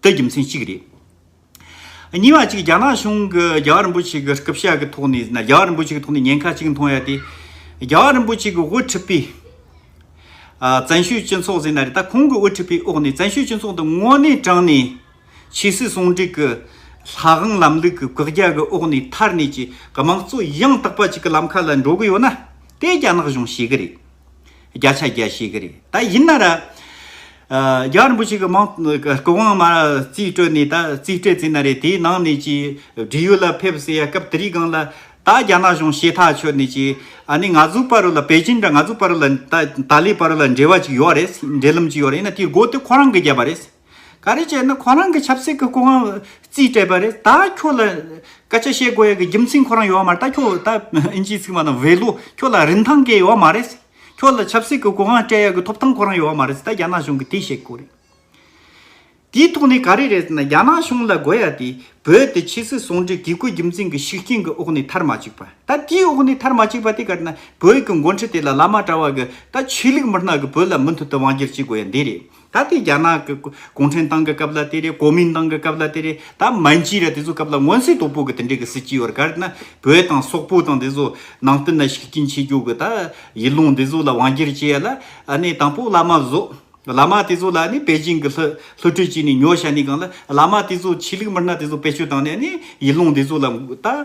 ཏི་རྒྱུ་མཚན་གཅིག་རེད། གཉིས་པ་གཅིག་རྒྱ་ནག་གཞུང་གི་རྒྱལ་བ་རིན་པོ་ཆེ་གི་སྐུ་ཕྱྭ་གི་ཐོག་ནས་རྒྱལ་བ་རིན་པོ་ཆེ་གི་ཐོག་ནས་ཉེན་ཁ་གཅིག་མཐོང་ཡ་དེ། རྒྱལ་བ་རིན་པོ་ཆེ་གི་དབུ་ཁྲིད་པའི། བཙན་ཤོས་སྤྱི་ཚོགས་ཟེར་ན་རེད་ད་ཁོང་གི་དབུ་ཁྲིད་པའི་འོག་ནས་བཙན་ཤོས་སྤྱི་ཚོགས་འདི་དངོས་གནས་དྲང་ནས། ཆོས་སྲིད་ཟུང་འབྲེལ་གི་ལྷ་དབང་ལམ་ལུགས་ཀྱི་བཀག་རྒྱ་གི་འོག་ནས་ཐར་ནས་ཀྱི་དམངས་གཙོ་ཡང་དག་པ་ཅིག་གི་ལམ་ཁ་ལ་འགྲོ་གི་ཡོད་ན། དེ་རྒྱ་ནག་གཞུང་ཤེས་གི་རེད། བརྒྱ་ཆ་བརྒྱ་ཞིག་གི་རེད་ད་ཡིན་ན། རྒྱ་རིན་པོ་ཆེ་གི་མང་གི་དབང་མ་རྩིས་སྤྲོད་ནས་ད་རྩིས་སྤྲད་རྩིས་ན་རེད་དེའི་ནང་ནས་ཀྱི་འབྲེལ་ཡོད་ལ་ཕེབས་ཟེར་ཡ་སྐབས་དེ་རིགས་གང་ལ་ད་རྒྱ་ནག་གཞུང་ཤེས་ཐག་ཆོད་ནས་ཀྱི་ཨ་ནི་ང་ཚོའི་པར་རོ་ལ་པེ་ཅིན་དང་ང་ཚོའི་པར་རོ་ལ་ད་ཏཱ་ལའི་པར་རོ་ལ་འབྲེལ་བ་ཅིག་ཡོད་རེད་འབྲེལ་ལམ་ཅིག་ཡོད་རེད་ཡིན་ན་དེའི་སྒོ་དེ་ཁོ་རང་གི་བརྒྱབ་པ་རེད། ག་རེ་བྱས་ན་ཁོ་རང་གི་ཆབ་སྲིད་ཀྱི་སྐུ་ངལ་རྩིས་སྤྲད་པ་རེད་ད་ཁྱོད་ལ་སྐད་ཆ་བཤད་དགོས་ཡ་གི་རྒྱུ་མཚན་ཁོ་རང་ཡོད་མ་རེད་ད་ཁྱོད་ད་ཨིན་ཇིའི་ཚིག་མ་དང་བྷེ་ལོ་ཁྱོད་ལ་རིན་ཐང་གི་ཡོད་མ་རེད་ཁྱོད་ལ་ཆབ་སྲིད་ཀྱི་སྐུ་ངལ་སྤྲད་ཡ་གི་ཐོབ་ཐང་ཁོ་རང་ཡོད་མ་རེད་ད་རྒྱ་ནག་གཞུང་གི་དེ་བཤད་དགོས་རེད། དེའི་ཐོག་ནས་ག་རེ་རེད་ཟེར་ན་རྒྱ་ནག་གཞུང་ལ་དགོས་ཡ་དེ་བོད་དེ་ཕྱི་སྲིད་ཟུང་འབྲེལ་གི་སྐུའི་རྒྱུ་མཚན་གྱི་ཤུགས་རྐྱེན་གྱི་འོག་ནས་ཐར་མ་བཅུག་པ་ད་དེའི་འོག་ནས་ཐར་མ་བཅུག་པ་དེ་ག་རེ་ན་བོད་ཀྱི་མགོ་འཁྲིད་དེ་ལ་ལ་མ་གྲ་བ་གི་ད་ཆོས་ལུགས་མི་སྣ་གི་བོད་ལ་མུ་མཐུད་དུ་དབང་སྒྱུར་བྱེད་དགོས་ཡ་འདི་རེད། ད་ལྟའི་རྒྱ་ནག་གི་གུང་ཁྲན་ཏང་གི་སྐབས་ལ་དེ་རེད་གོ་མིན་ཏང་གི་སྐབས་ལ་དེ་རེད་ད་མན་ཇི་ར་དེ་ཚོའི་སྐབས་ལ་མངོན་གསལ་དོད་པོ་གི་དེ་འདྲའི་གི་སྲིད་སྤྱི་ཡོད་རེད་ག་རེ་ན་བོད་དང་སོག་པོ་དང་དེ་ཚོ་ནང་བསྟན་ལ་ཤུགས་རྐྱེན་ཆེ་རྒྱུ་གི་ད་ཡིད་ལུང་དེ་ཚོ་ལ་དབང་སྒྱུར་བྱེད་ཡ་ལ་ནི་དང་པོ་བླ་མ་བཟོ་བླ་མ་དེ་ཚོ་ལ་ནི་པེ་ཅིང་གི་ལྷུ་ལྷུ་ཁྲིད་བྱས་ནས་ཉོ་བྱ་ནི་གང་ལ་བླ་མ་དེ་ཚོ་ཆོས་ལུགས་མི་སྣ་དེ་ཚོ་བེད་སྤྱོད་བཏང་ནས་ནི་ཡིད་ལུང་དེ་ཚོ་ལ་ད།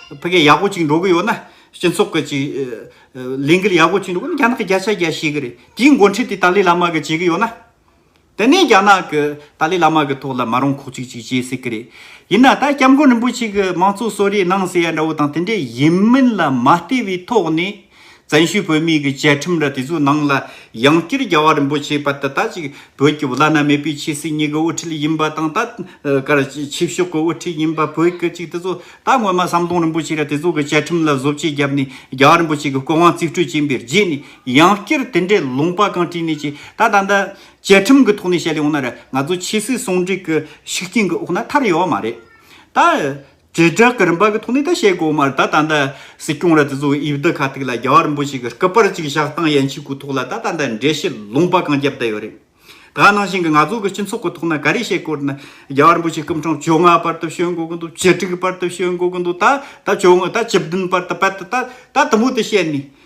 ཕ་གི་ཡག་པོ་གཅིག་འགྲོ་གི་ཡོད་ན་སྤྱི་ཚོགས་ཀྱི་གཅིག་ལས་འགུལ་ཡག་པོ་གཅིག་འགྲོ་གི་ཡོད་ན་རྒྱ་ནག་གི་རྒྱ་ཆེ་རྒྱ་ཤེས་ཀྱི་རེད་དེའི་འགོ་འཁྲིད་དེ་ཏཱ་ལའི་བླ་མ་གི་བྱེད་ཀྱི་ཡོད་ན། དེ་ནས་རྒྱ་ནག་གི་ཏཱ་ལའི་བླ་མ་གི་ཐོག་ལ་མ་རུང་ཁོག་ཅིག་ཅིག་བྱེད་སྲིད་ཀྱི་རེད། ཡིན་ན་ད་སྐྱབས་མགོན་རིན་པོ་ཆེ་གི་མང་གཙོ་གསོ་རེས་གནང་ཟེར་ཡ་འདྲ་བོ་དང་དེ་འདྲས་ཡིན་མིན་ལ་མ་ལྟོས་པའི་ཐོག་ནས། བཙན་བྱོལ་བོད་མིའི་གི་བཅའ་ཁྲིམས་ར་དེ་ཚོའི་ནང་ལ་ཡང་བསྐྱར་རྒྱ་བ་རིན་པོ་ཆེ་པ་ད་ལྟ་ཅིག་བོད་ཀྱི་བླ་ན་མེད་པའི་ཆེ་སྲིད་གཉིས་གི་དབུ་ཁྲིད་ཡིན་པ་དང་ད་གར་ཆིབས་ཤོག་གི་དབུ་ཁྲིད་ཡིན་པ་བོད་གི་ཅིག་དེ་ཚོ་ད་སྔོན་མ་ཟམ་གདོང་རིན་པོ་ཆེ་ར་དེ་ཚོ་གི་བཅའ་ཁྲིམས་ལ་བཟོ་བཅོས་བརྒྱབ་ནས་རྒྱ་བ་རིན་པོ་ཆེ་གི་སྐུ་དབང་རྩིས་སྤྲོད་བྱིན་པའི་རྗེས་ནས་ཡང་བསྐྱར་དེ་འདྲའི་ལུང་པ་གང་བྲིས་ནས་ཅིག་ད་ད་ལྟ་བཅའ་ཁྲིམས་གི་ཐོག་ནས་བཤད་ཡོང་ན་ར་ང་ཚོ་ཆེ་སྲིད་ཟུང་འབྲེལ་གི་ཤུགས་རྐྱེན་གི་འོག་ན་ཐར་ཡོང་བ་མ་རེད་ད། རྗེས་བསྒྲགས་ཀྱི་རིམ་པ་གི་ཐོག་ནས་ད་བཤད་དགོས་མ་རེད་ད་ད་ལྟ་སྲིད་སྐྱོང་ར་དེ་ཚོ་དབྱིབས་རྡུལ་ཁ་ཐིག་ལ་རྒྱ་བར་འབུ་ཞིག་གི་སྐུ་པར་གཅིག་བཞག་སྟངས་ཡན་ཆད་ཀུ་ཐོག་ལ་ད་ད་ལྟ་འགྲེལ་བཤད་ལུང་པ་གང་རྒྱབ་བསྡད་ཡོད་རེད་ད་ནང་བཞིན་གྱི་ང་ཚོ་གི་སྤྱི་ཚོགས་ཀྱི་ཐོག་ན་ག་རེ་བཤད་དགོས་ན་རྒྱ་བར་འབུ་ཞིག་སྐུ་ཕྲེང་བཅོ་ལྔ་པར་ད་བཤད་དགོས་ཀྱི་འདུག་བཅུ་དྲུག་པར་ད་བཤད་དགོས་ཀྱི་འདུག་ད་ད་བཅོ་ལྔ་ད་བཅུ་བདུན་པར་ད་པད་ད་ད་དུམ་བུ་ད་བཤད་ནས་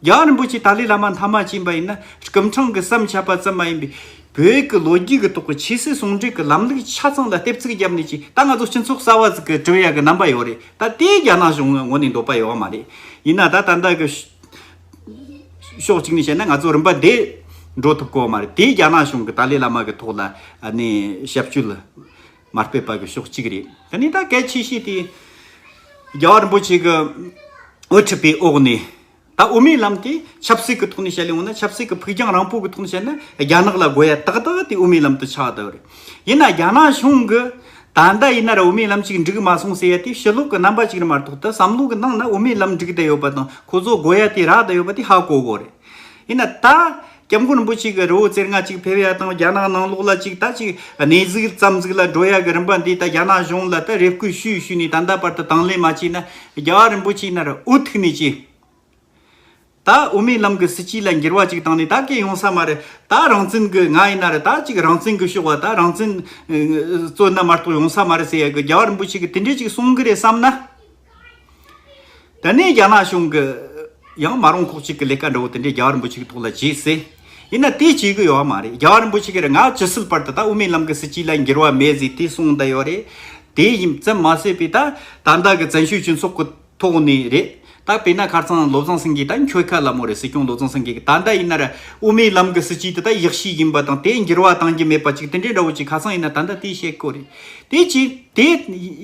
རྒྱ་རིན་པོ་ཆེས་ཏཱ་ལའི་བླ་མ་མཐའ་མ་བྱིན་པ་ཡིན་ན་སྐུ་འཕྲེང་གི་བསམ་འཆར་པ་ཙམ་མ་ཡིན་པའི་བོད་ཀྱི་ལོ་རྒྱུས་ཀྱི་ཐོག་གི་ཆོས་སྲིད་ཟུང་འབྲེལ་གྱི་ལམ་ལུགས་ཆ་ཚང་ལ་ལྟེབ་བརྩེགས་བརྒྱབ་ནས་ཀྱི་ད་ང་ཚོ་སྤྱི་ཚོགས་གསར་བ་ཟིག་གི་གྲུབ་ཡ་གི་རྣམ་པ་ཡོད་རེད་ད་དེ་རྒྱ་ནག་གཞུང་ངོ་ནས་འདོད་པ་ཡོད་མ་རེད་ཡིན་ན་ད་ད་ལྟ་གི་ཕྱོགས་གཅིག་ནས་བཤད་ན་ང་ཚོ་རིམ་པ་བདེ་འགྲོ་ཐུབ་དགོས་མ་རེད་དེ་རྒྱ་ནག་གཞུང་གི་ཏཱ་ལའི་བླ་མ་གི་ཐོག་ལ་ནས་ཞབས་ཞུ་ལ། མར་པའི་བར་གྱི་ཕྱོགས་གཅིག་རེད། དེ་ནས་ད་གལ་ཆེ་ཤོས་དེ། རྒྱལ་བ་རིན་པོ་ཆེ་གི་འོས་འཁྲིད་པའི་འོག་ནས། ད་དབུ་མའི་ལམ་དེ་ཆབ་སྲིད་ཀྱི་ཐོག་ནས་བཤད་ལེ་འོ་ན་ཆབ་སྲིད་ཀྱི་ཕུགས་རྒྱང་རིང་པོ་གི་ཐོག་ནས་བཤད་ན་རྒྱ་ནག་ལ་དགོས་ཡ་ཏག་ཏག་དེ་དབུ་མའི་ལམ་དུ་ཆགས་ཡོད་རེད། ཡིན་ན་རྒྱ་ནག་གཞུང་གི། ད་ལྟ་ཡིན་ན་ར་དབུ་མའི་ལམ་ཅིག་འགྲིག་མ་སོང་ཟེར་ཡ་དེ་ཕྱི་ལོག་གི་རྣམ་པ་ཅིག་རེད་མ་གཏོགས་ད་བསམ་བློ་གི་ནང་ན་དབུ་མའི་ལམ་འགྲིག་བསྡད་ཡོད་པ་དང་ཁོ་ཚོ་དགོས་ཡ་དེ་རག་བསྡད་ཡོད་པ་དེ་ཧ་གོ་གོ་རེད། ཡིན་ན་ད། སྐྱབས་མགོན་རིན་པོ་ཆེ་གི་རི་བོ་རྩེར་ལྔ་གཅིག་ཕེབས་ཡ་དང་རྒྱ་ནག་ནང་ལོག་ལ་གཅིག་ད་གཅིག་གནས་གཟིགས་རྩམ་གཟིགས་ལ་འགྲོ་ཡ་གི་རིམ་པ་འདི་ད་རྒྱ་ནག་གཞུང་ལ་ད་རེ་བསྐུལ་ཞུས་ཞུས་ནས་ད་ལྟ་བར་དུ་དང་ལེན་མ་བྱས་ན་རྒྱ་བ་རིན་པོ་ཆེ་ནར་འུ་ཐུག་ནས་ཀྱི། ད་འུ་མའི་ལམ་གི་སྲིད་སྤྱི་ལ་འགྱུར་བ་གཅིག་བཏང་ནས་ད་གས་ཡོང་ས་མ་རེད་ད་རང་བཙན་གི་ང་ཡིན་ན་རེ་ད་གཅིག་རང་བཙན་གི་ཤོག་བ་ད་རང་བཙན། བཙོན་ན་མ་གཏོགས་ཡོང་ས་མ་རེད་ཟེར་ཡ་གི་རྒྱ་བ་རིན་པོ་ཆེ་གི་དེ་འདྲས་གཅིག་གསུང་གི་རེད་བསམ་ན། ད་ནས་རྒྱ་ནག་གཞུང་གིས་ཡང་མ་རུང་ཁོག་གཅིག་གི་ལས་ཀ་འདྲ་བོ་དེ་འདྲས་རྒྱ་བ་རིན་པོ་ཆེ་གི་ཐོག་ལ་བྱེད་སྲིད། ཡིན་ན་དེ་བྱེད་གི་ཡོད་བ་མ་རེད་རྒྱ་བ་རིན་པོ་ཆེ་གིས་ང་ཇི་སྲིད་བར་དུ་ད་དབུ་མའི་ལམ་གི་སྲིད་སྤྱི་ལ་འགྱུར་བ་མེད་ཟིག་དེ་གསུངས་ད་ཡོད་རེད། དེ་ཡིན་ཙམ་མ་ཟོས་པས་ད་ད་ལྟ་གི་བཙན་བྱོལ་སྤྱི་ཚོགས་ཀི་ཐོག་ནས་རེད། ད་བལྟ་ན་ཁར་ཚང་བློ་བཟང་སེང་གེ་ད་འཁྱོལ་ཁ་ལ་མོ་རེད་སྲིད་སྐྱོང་བློ་བཟང་སེང་གེ་གི་ད་ད་ཡིན་ན་ར་དབུ་མའི་ལམ་གི་སྲིད་སྤྱི་དེ་ད་ཡག་ཤོས་ཡིན་པ་དང་དེ་འགྱུར་བ་གཏང་གི་མེད་པ་ཅིག་དེ་འདྲས་འདྲ་བོ་ཅིག་ཁ་སང་ཡིན་ན་ད་ད་དེ་བཤད་དགོས་རེད། དེ་གཅིག་དེ་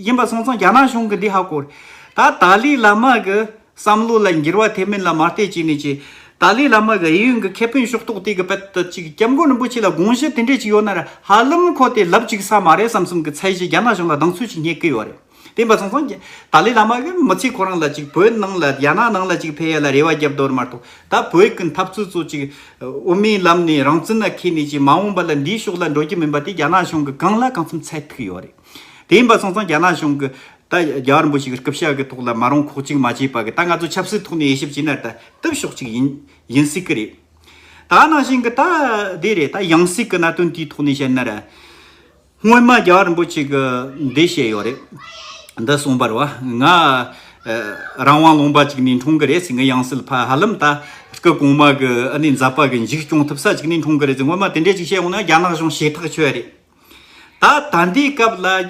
ཡིན་པ་སོང་ཙང་རྒྱ་ནག་གཞུང་གི་འདི་ཧ་གོ། ད་ཏཱ་ལའི་བླ་མ་གི་བསམ་བློ་ལ་འགྱུར་བ་ཐེབས་མིན་ལ་མ་བལྟས་ཅི་ནས་ཅི། ཏཱ་ལའི་བླ་མ་གི་ཨེ་ཡོན་གྱི་ཁེ་ཕན་ཕྱོགས་གཏོགས་དེ་གི་དཔེ་ལྟ་ཅིག་སྐྱབས་མགོན་རིན་པོ་ཆེ་ལ་དགོངས་གཞི་དེ་འདྲས་ཅིག་ཡོད་ན་ར་ཧ་ལམ་ཁོ་དེ་ལབ་ཅིག་ས་མ་རེད་བསམ་བསམ་གི་ཚད་གཞི་རྒྱ་ནག་གཞུང་ལ་སྡང་ཚུལ་ཅིག་རྙེད་གི་ཡོད་རེད། དེ་ཡིན་པ་སོང་ཙང་ཏཱ་ལའི་བླ་མ་གི་མི་ཚེ་ཁོ་རང་ལ་ཅིག་བོད་ནང་ལ་རྒྱ་ནག་ནང་ལ་ཅིག་འཕེལ་ཡ་ལ་རེ་བ་རྒྱབ་འདོར་མ་གཏོགས་ད་བོད་ཀྱི་འཐབ་རྩོད་ཚོ་ཅིག་དབུ་མའི་ལམ་ནས་རང་བཙན་ལ་ཁེལ་ནས་ཀྱི་མ་འོངས་པ་ལ་འདིའི་ཕྱོགས་ལ་འགྲོ་རྒྱུ་མིན་པ་དེ་རྒྱ་ནག་གཞུང་གི་གང་ལ་གང་འཚམས་ཚད་ཐིག་ཡོད་རེད། དེ་ཡིན་པ་སོང་ཙང་རྒྱ་ནག་གཞུང་གི་ད་རྒྱ་གར་འབོ་ཞིག་གི་སྐུ་ཕྱྭ་གི་ཐོག་ལ་མ་རུང་ཁོག་ཅིག་མ་བྱེད་པ་གི་ད་ང་ཚོ་ཆབ་སྲིད་ཐོག་ནས་དབྱེ་ཞིབ་བྱེད་ན་ད་དིབ་ཤོག་ཅིག་ཡིན་ཡིན་སྲིད་གི་རེད། ད་ནང་བཞིན་གི་ད་དེ་རེད་ད་ཡང་སྲིད་གི་གནད་དོན་དེའི་ཐོག་ནས་བཤད་ན་ར། སྔོན་མ་རྒྱ་རིན་པོ་ཆེ་གི་འདི་བཤད་ཡོད་རེད། འདི་གསུངས་པར་བ། ང། རང་དབང་ལུང་པ་ཅིག་ནས་འཁྲུངས་གི་རེད་ཟེར་ངའི་དབྱངས་གསལ་ཕ་ཧ་ལམ་ད་སྐུ་གོང་མ་གི་ཨ་ནེ་འཛབ་པ་གི་འཇིགས་སྐྱོང་ཐུབ་ས་ཅིག་ནས་འཁྲུངས་གི་རེད་ཟེར་སྔོན་མ་དེ་འདྲས་ཅིག་བཤད་འོང་ན་རྒྱ་ནག་གཞུང་ཞེ་ཐག་ཆོད་རེད། ད་ད་འདིའི་སྐབས་ལ།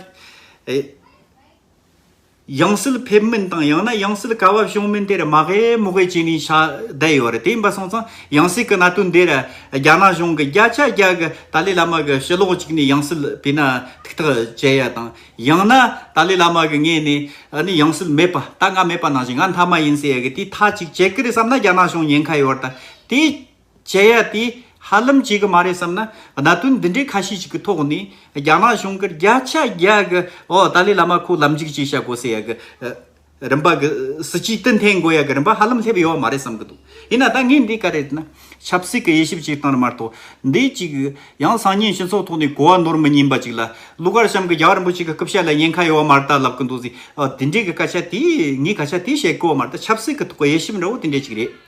ཡང་སྲིད་ཕེབས་མིན་དང་ཡང་ན་ཡང་སྲིད་དཀའ་བ་བྱུང་མིན་དེར་མ་དབྱེ་མི་དབྱེ་བྱས་ནས་བྱ་བསྡད་ཡོད་རེད་དེ་ཡིན་པ་སོང་ཙང་ཡང་སྲིད་ཀྱི་གནད་དོན་འདིར་རྒྱ་ནག་གཞུང་གིས་བརྒྱ་ཆ་བརྒྱ་གི་ཏཱ་ལའི་བླ་མ་གི་ཕྱི་ལོགས་གཅིག་ནས་ཡང་སྲིད་ཕེབས་ན་ཐུགས་ཐག་བཅད་ཡ་དང་ཡང་ན་ཏཱ་ལའི་བླ་མ་གི་ངེད་ནས་ནི་ཡང་སྲིད་མེད་པ་ད་ང་མེད་པ་ནང་བཞིན་ང་མཐའ་མ་ཡིན་ཟེར་ཡ་གི་དེ་མཐའ་གཅིག་བྱེད་ཀྱི་རེད་བསམ་ན་རྒྱ་ནག་གཞུང་ཉེན་ཁ་ཡོད་རེད་ད་དེ། བྱེད་ཡ་དེ་ཧ་ལམ་བྱེད་གི་མ་རེད་བསམ་ན་གནད་དོན་འདི་འདྲའི་ཁ་ཤས་ཤིག་གི་ཐོག་ནས་རྒྱ་ནག་གཞུང་གིས་བརྒྱ་ཆ་བརྒྱ་གི་འོག་ཏཱ་ལའི་བླ་མ་ཁོ་ལམ་འཇུག་བྱེད་བྱ་དགོས་ཟེར་ཡ་གི་རིམ་པ་གི་སྲིད་ཇུས་གཏན་འཐེན་དགོས་ཡ་གི་རིམ་པ་ཧ་ལམ་སླེབས་ཡོད་མ་རེད་བསམ་གི་འདུག་ཡིན་ན་ད་ངས་འདི་ག་རེ་ན་ཆབ་སྲིད་གི་དབྱེ་ཞིབ་ཅིག་བཏང་རེ་མ་གཏོགས་འདི་ཅིག་ཡང་སང་ཉིན་སྤྱི་ཚོགས་ཐོག་ནས་གོ་བ་ནོར་མི་ཉན་པ་ཅིག་ལ་ཀླུ་གར་བྱམས་གི་རྒྱ་གར་འབོ་ཆེན་གི་སྐུ་ཕྱྭ་ལ་ཉེན་ཁ་ཡོད་མ་རེད་ལབ་གི་འདུག་ཟེར་ཨོ་དེ་འདྲའི་གི་སྐད་ཆ་དེ་ངས་ག་ཆ་དེ་བཤད་དགོས་མ་རེད་ད་ཆབ་སྲིད་གི་ཐོག་གི་དབྱེ་ཞིབ་འདྲ་བོ་དེ་འདྲ་ཅིག་རེད།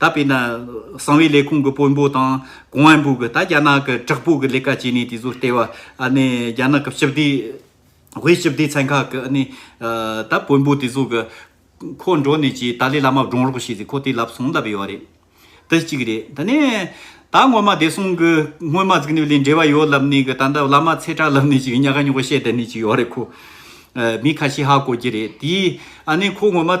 ད་དཔེར་ན། གསང་བའི་ལས་ཁུངས་ཀྱི་དཔོན་པོ་དང་གོང་བོན་པོ་གིས་ད་རྒྱ་ནག་གི་དྲག་པོ་གི་ལས་ཀ་བྱས་ནས་དེ་ཚོ་ལྟེ་བ་ནས་རྒྱ་ནག་གི་སྤྱི་བདེ། བའི་སྤྱི་བདེ་ཚན་ཁག་གི་ནི། ད་དཔོན་པོ་དེ་ཚོ་གི། ཁོ་འགྲོ་ནས་ཀྱི་ཏཱ་ལའི་བླ་མ་བགྲོང་རོགས་བྱས་ཏེ་ཁོ་དེ་ལབ་སོང་ལབ་ཡོད་རེད། དེ་གཅིག་རེད་དེ་ནས། ད་སྔོན་མ་བདེ་སྲུང་གི་སྔོན་མ་གཟིགས་ནས་ལས་འབྲེལ་བ་ཡོད་ལབ་ནས་ཀྱི་ད་ལྟ་བླ་མ་ཚེ་གྲགས་ལབ་ནས་ཀྱི་ཉག་ག་ཉོག་ག་བཤད་དེ་ནས་ཀྱི་ཡོད་རེད་ཁོ། མི་ཁ་ཤས་ཧ་གོ་གྱི་རེད་དེའི་ཨ་ནི་ཁོ་སྔོན་མ།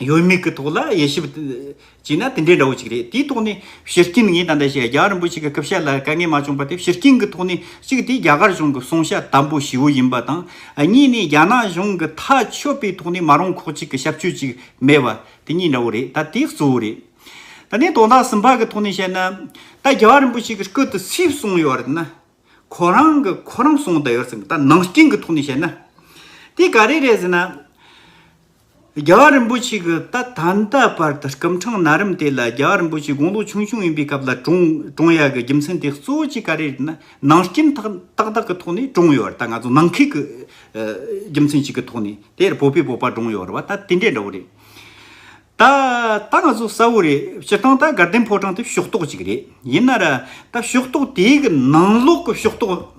ཡོད་མེད་ཀྱི་ཐོག་ལ་དབྱེ་ཞིབ་བྱས་ན་དེ་འདྲའི་འདྲ་བོ་ཅིག་རེད་དེའི་ཐོག་ནས་ཤེར་སྐྱིན་ངས་ད་ལྟ་བཤད་རྒྱ་གར་རིན་པོ་ཆེ་གི་སྐུ་ཞབས་ལ་དཀའ་ངལ་མ་བྱུང་པ་དེ་ཤེར་སྐྱིན་གྱི་ཐོག་ནས་གཅིག་དེ་རྒྱ་གར་གཞུང་གི་གསུང་བཤད་དམ་པོ་ཞི་བོ་ཡིན་པ་དང་གཉིས་ནས་རྒྱ་ནག་གཞུང་གི་ཐག་ཆོད་པའི་ཐོག་ནས་མ་རུང་ཁོག་གཅིག་གི་ཞབས་ཆོས་ཅིག་མེད་པ་དེ་གཉིས་འདྲ་བོ་རེད་ད་དེ་གཙོ་བོ་རེད། ད་ནས་དོན་དག་གསུམ་པ་གི་ཐོག་ནས་བཤད་ན་ད་རྒྱ་གར་རིན་པོ་ཆེ་གི་སྐུ་དེ་སུས་གསུངས་ཡོད་རེད་ན་ཁོ་རང་གི་ཁོ་རང་གསུངས་ད་ཡོད་ཟེར་མོད་ད་ནང་སྐྱིན་གྱི་ཐོག་ནས་བཤད་ན་དེ་ག་རེ་རེད་ཟེར་ན། རྒྱལ་བ་རིན་པོ་ཆེ་གི་ད་ད་ལྟ་བར་དུ་སྐུ་འཕྲེང་ན་རིམ་དེ་ལ་རྒྱལ་བ་རིན་པོ་ཆེ་དགུང་ལོ་ཆུང་ཆུང་ཡིན་པའི་སྐབས་ལ་དྲུང་དྲུང་ཡ་གི་རྒྱུ་མཚན་དེ་གཙོ་བོ་གཅིག་ག་རེ་ན་ནང་རྐྱེན་ཏག་ཏག་ཏག་གི་ཐོག་ནས་དྲུང་ཡོད་བར་ད་ང་ཚོ་ནང་ཁུལ་གྱི་རྒྱུ་མཚན་ཞིག་གི་ཐོག་ནས་དེར་བོད་པའི་བོད་པ་དྲུང་ཡོད་བར་ད་དེ་འདྲས་འདྲ་བོ་རེད། ད་ད་ང་ཚོ་གསལ་བོ་རེད་སྤྱིར་བཏང་ད་དགའ་ལྡན་ཕོ་བྲང་དེ་ཕྱོགས་གཏོགས་གཅིག་རེད་ཡིན་ན་ར་ད་ཕྱོགས་གཏོགས་དེའི་གི་ནང་ལོགས་གི་ཕྱོགས་གཏོགས་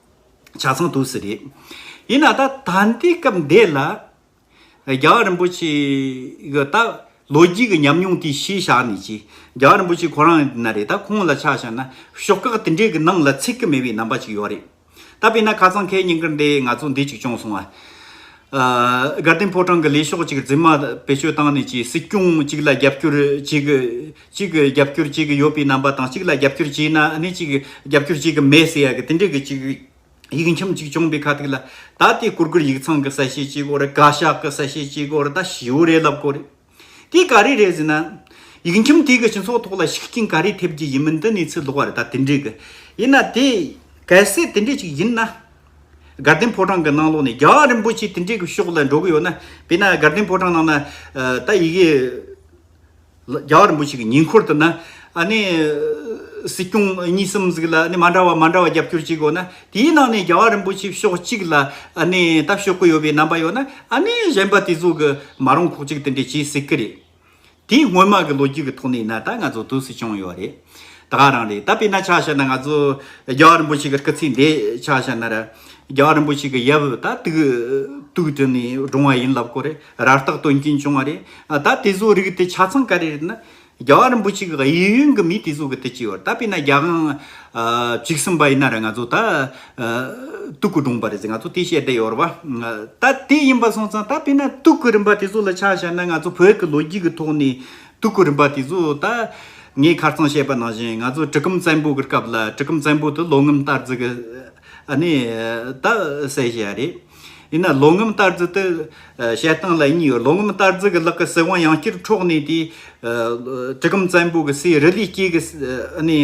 ཆ་ཚང་དུ་ཟེར་རེད། ཡིན་ན་ད་ད་ལྟའི་སྐབས་འདི་ལ། རྒྱལ་བ་རིན་པོ་ཆེ་གི་ད་ལོ་རྒྱུས་ཀྱི་ཉམས་མྱོང་དེ་ཤེས་བཞག་ནས་ཀྱི། རྒྱལ་བ་རིན་པོ་ཆེ་ཁོ་རང་ན་རེ་ད་ཁོང་ལ་ཆ་བཞག་ན་ཤོག་ཁག་དེ་འདྲའི་གི་ནང་ལ་ཚིག་གི་མེད་པའི་རྣམ་པ་ཅིག་ཡོད་རེད། ད་དཔེར་ན་ཁ་ཚང་ཁའི་སྙིང་ཀར་འདི་ང་ཚོ་འདི་ཅིག་བྱུང་སོང་ཨ། དགའ་ལྡན་ཕོ་བྲང་གི་ལས་ཤོག་ཅིག་རྫུན་མ་བེད་སྤྱོད་བཏང་ནས་ཀྱི་སྲིད་སྐྱོང་ཅིག་ལ་རྒྱབ་སྐྱོར་བྱེད་གི། གཅིག་གི་རྒྱབ་སྐྱོར་གཅིག་གི་ཡོད་པའི་རྣམ་པ་དང་གཅིག་ལ་རྒྱབ་སྐྱོར་གཅིག་ན་ནི་གཅིག་གི་རྒྱབ་སྐྱོར་གཅིག་གི་མེད་ཟེར་ཡག་གི་དེ་འདྲའི་གི་གཅིག་ཡིག་ཁྱིམ་གཅིག་བྱུང་པའི་ཁ་ཐིག་ལ་ད་དེ་སྐུར་སྐུར་ཡིག་ཚང་གི་གསལ་བཤད་གཅིག་གོ་རེ་བཀའ་ཤག་གི་གསལ་བཤད་གཅིག་གོ་རེ་ད་བྱིའུ་རེ་ལབ་གོ་རེ་དེ་ག་རེ་རེད་ཟེར་ན། ཡིག་ཁྱིམ་དེ་གི་སྤྱི་ཚོགས་ཐོག་ལ་ཤུགས་རྐྱེན་ག་རེ་ཐེབས་ཀྱི་ཡིན་མིན་དེ་གནས་ཚུལ་ལོག་རེད་ད་དེ་འདྲའི་གི་ཡིན་ན་དེ་གལ་སྲིད་དེ་འདྲའི་གཅིག་ཡིན་ན། དགའ་ལྡན་ཕོ་བྲང་གི་ནང་ལོག་ནས་རྒྱ་རིན་པོ་ཆེ་དེ་འདྲའི་གི་ཕྱོགས་ལ་འགྲོ་གི་ཡོད་ན་དཔེར་ན་དགའ་ལྡན་ཕོ་བྲང་ནང་ན་ད་ཡི་གེ། རྒྱ་གར་འབུ་ཞིག་གི་ཉེ་འཁོར་དུ་ན། སྲིད་སྐྱོང་གཉིས་གསུམ་ཟིག་ལ་མ་འདྲ་བ་མ་འདྲ་བ་རྒྱབ་སྐྱོར་བྱེད་དགོས་ན། དེའི་ནང་ནས་རྒྱ་གར་རིན་པོ་ཆེ་ཕྱོགས་གཅིག་ལ་ལྟ་ཞོག་གི་ཡོད་པའི་རྣམ་པ་ཡོད་ན། གཞན་པ་དེ་ཚོ་གི་མ་རུང་ཁོག་ཅིག་དེ་འདྲས་བྱེད་སྲིད་ཀྱི་རེད། དེ་སྔོན་མ་གི་ལོ་རྒྱུས་ཀྱི་ཐོག་ནས་ན་ད་ང་ཚོ་དུས་སུ་བྱུང་ཡོད་རེད། ད་ག་རང་རེད་ད་དཔེ་ན་ཆ་བྱས་ན་ང་ཚོ་རྒྱ་གར་འབུ་ཞིག་གི་སྐུ་ཚེ་འདས་ཆ་བྱས་ན་ར། རྒྱ་གར་འབུ་ཞིག་གི་ཡབ་ད་དུག་དུག་དྲི་ནས་བགྲོངས་བ་ཡིན་ལབ་དགོས་རེད། ར་རྟགས་དོན་རྐྱེན་བྱུང་བ་རེད། ད་དེ་ཚོའི་རིགས་དེ་ཆ་ཚང་ག་རེ་རེད་ན། རྒྱ་གར་རིན་པོ་ཆེ་གི་གཡས་གཡོན་གི་མི་དེ་ཚོ་གི་དེ་གཅིག་ཡོད་རེད་ད་དཔེ་ན་རྒྱ་གང། གཅིག་གསུམ་པ་ཡིན་ན་རེ་ང་ཚོ་ད། སྟུག་གི་སྒྲུང་པ་རེད་ཟེར་ང་ཚོ་དེ་བཤད་བསྡད་ཡོད་རེད་བ། ད་དེ་ཡིན་པ་སོང་ཙང་ད་དཔེ་ན་སྟུག་གི་རིན་པ་དེ་ཚོ་ལ་ཆ་བཞག་ན་ང་ཚོ་བོད་ཀྱི་ལོ་རྒྱུས་ཀྱི་ཐོག་ནས། སྟུག་གི་རིན་པ་དེ་ཚོ་ད། ངས་ཁ་རྩང་བཤད་པ་ནང་བཞིན་ང་ཚོ་གྲི་གུམ་བཙན་པོ་གི་སྐབས་ལ་གྲི་གུམ་བཙན་པོ་དེ་ལོ་ངམ་སྟར་རྫི་གི། ཨ་ནི། ད་གསལ་བཤད་རེད། ཡིན་ན་ལོ་ངམ་ལྟར་རྫི་དེ། བཤད་སྟངས་ལ་གཉིས་ཡོད་ལོ་ངམ་ལྟར་རྫི་གི་ལག་གི་སྲིད་དབང་ཡང་བསྐྱར་འཕྲོག་ནས་དེ། གྲི་གུམ་བཙན་པོ་གི་སྲས་རི་ལས་སྐྱེས་ཀྱི།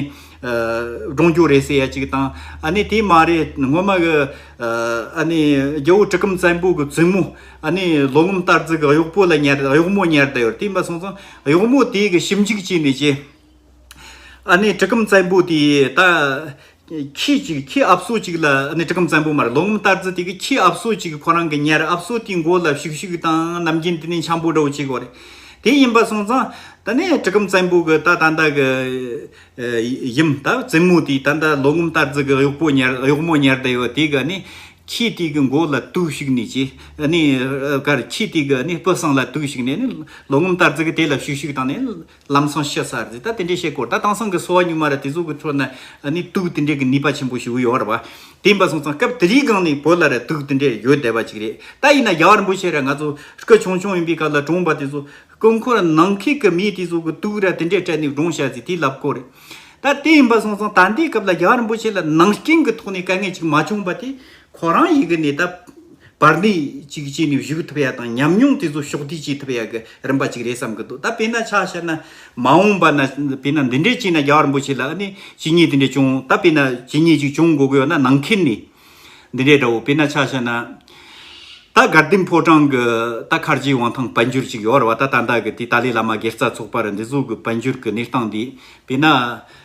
སྒྲུང་རྒྱུག་རེད་ཟེར་ཡ་གཅིག་དང། དེ་མ་རེད་སྔོན་མ་གི། རྒྱལ་བོ་གྲི་གུམ་བཙན་པོ་གི་བཙུན་མོ། ལོ་ངམ་ལྟར་རྫི་གི་གཡོག་པོ་ལ་གཡོག་མོ་ཉར་བསྡད་ཡོད་དེ་མ་སོང་ཙང་གཡོག་མོ་དེ་གི་ཞིབ་འཇུག་བྱས་ནས་ཀྱི། ཨ་ནི་གྲི་གུམ་བཙན་པོ་དེ་ད། ཁྱི་ཅིག་ཁྱི་ཨབ་སོ་ཅིག་ལ་ཨ་ནི་གྲི་གུམ་བཙན་པོ་མར་ལོ་ངམ་ལྟར་ཙི་ཏི་གི་ཁྱི་ཨབ་སོ་ཅིག་ཁོ་རང་གི་ཉལ་ཨབ་སོ་དེའི་མགོ་ལ་བཤུག་བཤུག་བཏང་ནམ་རྒྱུན་དེ་ནི་འཁྱམ་པོ་འདྲ་བོ་ཅིག་རེད། དེ་ཡིན་པ་སོང་ཙང། ད་ནི་གྲི་གུམ་བཙན་པོ་གི་ད་ད་ད་གི། ཡུམ་ད་བཙུན་མོ་དེ་ད་ད་ལོ་ངམ་ལྟར་ཙི་གི་གཡོག་པོ་ཉལ་གཡོག་མོ་ཉལ་བསྡད་ཡོད་དེ་གི་ཨ་ནི། ཁྱི་དེ་གི་མགོ་ལ་དུག་བཤུག་ནས་ཅི། ཨ་ནི། ཁྱི་དེ་གི་ཨ་ནི་སྤུ་གསང་ལ་དུག་བཤུག་ནས་ཨ་ནི་ལོ་ངམ་ལྟར་ཙི་གི་དེ་ལ་བཤུག་བཤུག་བཏང་ནས། ལམ་སང་ཤེས་སར་ཟིད་ད་དེ་འདྲའི་ཤེས་དཀོར་ད་དང་སང་གི་སོ་བ་སྙུག་མ་ར་དེ་ཟུག་གི་ཚོར་ན་ནི་དུག་དེ་འདྲའི་གི་ནུས་པ་ཆེན་པོ་ཞིག་ཡོད་ར་བ། དེ་ཡིན་པ་སོང་ཙང་སྐབས་དེ་རིའི་སྒང་ནི་བོད་ལ་ར་དུག་དེ་འདྲའི་ཡོད་བསྡད་པ་ཅིག་རེད་ད་ཡིན་ན་ཡར་འབུ་ཤེས་ར་ང་ཚོ་སྐུ་ཆུང་ཆུང་ཡིན་པའི་སྐབས་ལ་གྲོང་པ་དེ་ཚོ་སྐུ་འཁོར་ནང་ཁིག་གི་མིས་དེ་ཟུག་གི་དུག་ར་དེ་འདྲའི་སྤྲད་ནས་གྲོང་ཤར་ཟིད་དེ་ལབ་དཀོར་རེད་ད་དེ་ཡིན་པ་སོང་ཙང་ད་ལྟའི་སྐབས་ལ་ཡར་འབུ་ཤེས་ལ་ནང་སྐྱིན་གི་ཐོག་ནས་དཀའ་ངལ་ཅིག་མ་བྱུང་བ་དེ་ཁོ་རང་ཡིག་གི་ནས་ད་པར་ལས་གཅིག་བྱས་ནས་བཞུགས་ཐུབ་ཡ་དང་ཉམས་མྱོང་དེ་ཚོ་ཕྱོགས་བསྡུས་བྱེད་ཐུབ་ཡ་གི་རིམ་པ་གཅིག་རེད་བསམ་གི་འདུག་ད་དཔེར་ན་ཆ་ཤས་ན་མ་འོངས་པ་ན་དཔེར་ན་འདི་འདྲས་བྱས་ན་རྒྱ་གར་འབོ་ཆེ་ལ་ཨ་ནི་ཇི་སྙེད་དེ་འདྲས་བྱུང་ད་དཔེར་ན་ཇི་སྙེད་ཅིག་བྱུང་དགོས་གི་ཡོད་ན་ནང་ཁེལ་ནི་འདི་འདྲས་འདྲ་བོ་དཔེར་ན་ཆ་ཤས་ན་ད་དགའ་ལྡན་ཕོ་བྲང་གི་ད་མཁར་རྗེའི་དབང་ཐང་དཔལ་འབྱོར་ཅིག་ཡོད་ར་བ་ད་ད་ད་གི་དེ་ཏཱ་ལའི་བླ་མ་སྒེར་རྩ་ཚོགས་པར་འདི་ཟུག་གི་དཔལ་འབྱོར་གི་གནས་སྟངས་འདི་དཔེར་ན་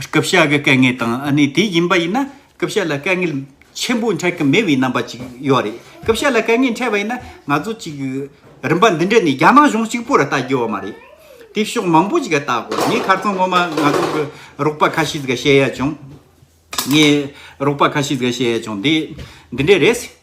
སྐུ་ཕྱྭ་གི་དཀའ་ངལ་དང་གནས་དེ་ཡིན་པ་ཡིན་ན་སྐུ་ཕྱྭ་ལ་དཀའ་ངལ་ཆེན་པོ་འཕྲད་ཀྱི་མེད་པའི་རྣམ་པ་ཅིག་ཡོད་རེད་སྐུ་ཕྱྭ་ལ་དཀའ་ངལ་འཕྲད་པ་ཡིན་ན་ང་ཚོ་ཅིག་རིམ་པ་འདི་འདྲ་ནས་རྒྱ་ནག་གཞུང་གཅིག་པོ་རུ་ལྟ་དགོས་བ་མ་རེད་དེ་ཕྱོགས་མང་པོ་ཅིག་ལྟ་དགོས་ངས་ཁ་ཚོན་ངོ་མ་ང་ཚོ་གི་རོགས་པ་ཁ་ཤས་ཟིག་བཤད་ཡ་བྱུང་ངས་རོགས་པ་ཁ་ཤས་ཟིག་བཤད་ཡ་བྱུང་དེ་འདི་འདྲ་རེད།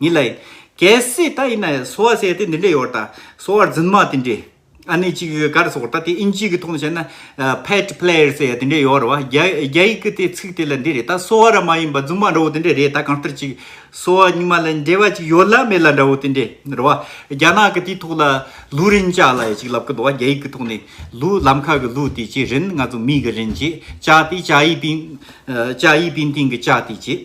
ཉིད་ལ། གལ་སྲིད་ད་ཡིན་ན་གསོ་བ་སའི་དེ་འདི་འདྲ་ཡོད་ད། གསོ་བ་རྫུན་མ་དེ་འདྲས། ཨ་ནི་གཅིག་གི་གར་སོགས་ད་དེ་ཨིན་ཇིའི་གི་ཐོག་ནས་བཤད་ན། Pet player སའི་དེ་འདྲས་ཡོད་རེད་བ། རྒྱ་ཡིག་གི་དེ་ཚིག་དེ་ལ་འདི་རེད་ད་གསོ་བ་ར་མ་ཡིན་པ་རྫུན་མ་འདྲ་བོ་དེ་འདྲས་རེད་ད་གང་ལྟར་གཅིག། གསོ་བ་ཉི་མ་ལ་འབྲེལ་བ་གཅིག་ཡོད་ལ་མེད་ལ་འདྲ་བོ་དེ་འདྲས་རེད་བ། རྒྱ་ནག་གི་དེའི་ཐོག་ལ་ལུའུ་རིན་ཅཱ་ལ་ཡ་གཅིག་ལབ་གི་འདུག་བ་རྒྱ་ཡིག་གི་ཐོག་ནས་ལུའུ་ལམ་ཁ་གི་ལུའུ་དེ་ཅེས་རིན་ང་ཚོ་མིའི་གི་རིན་ཅེས་ཅཱ་དེ་ཅཱ་ཡིས་པིན། ཅཱ་ཡིས་པིན་ཏིང་གི་ཅཱ་དེ་ཅེས།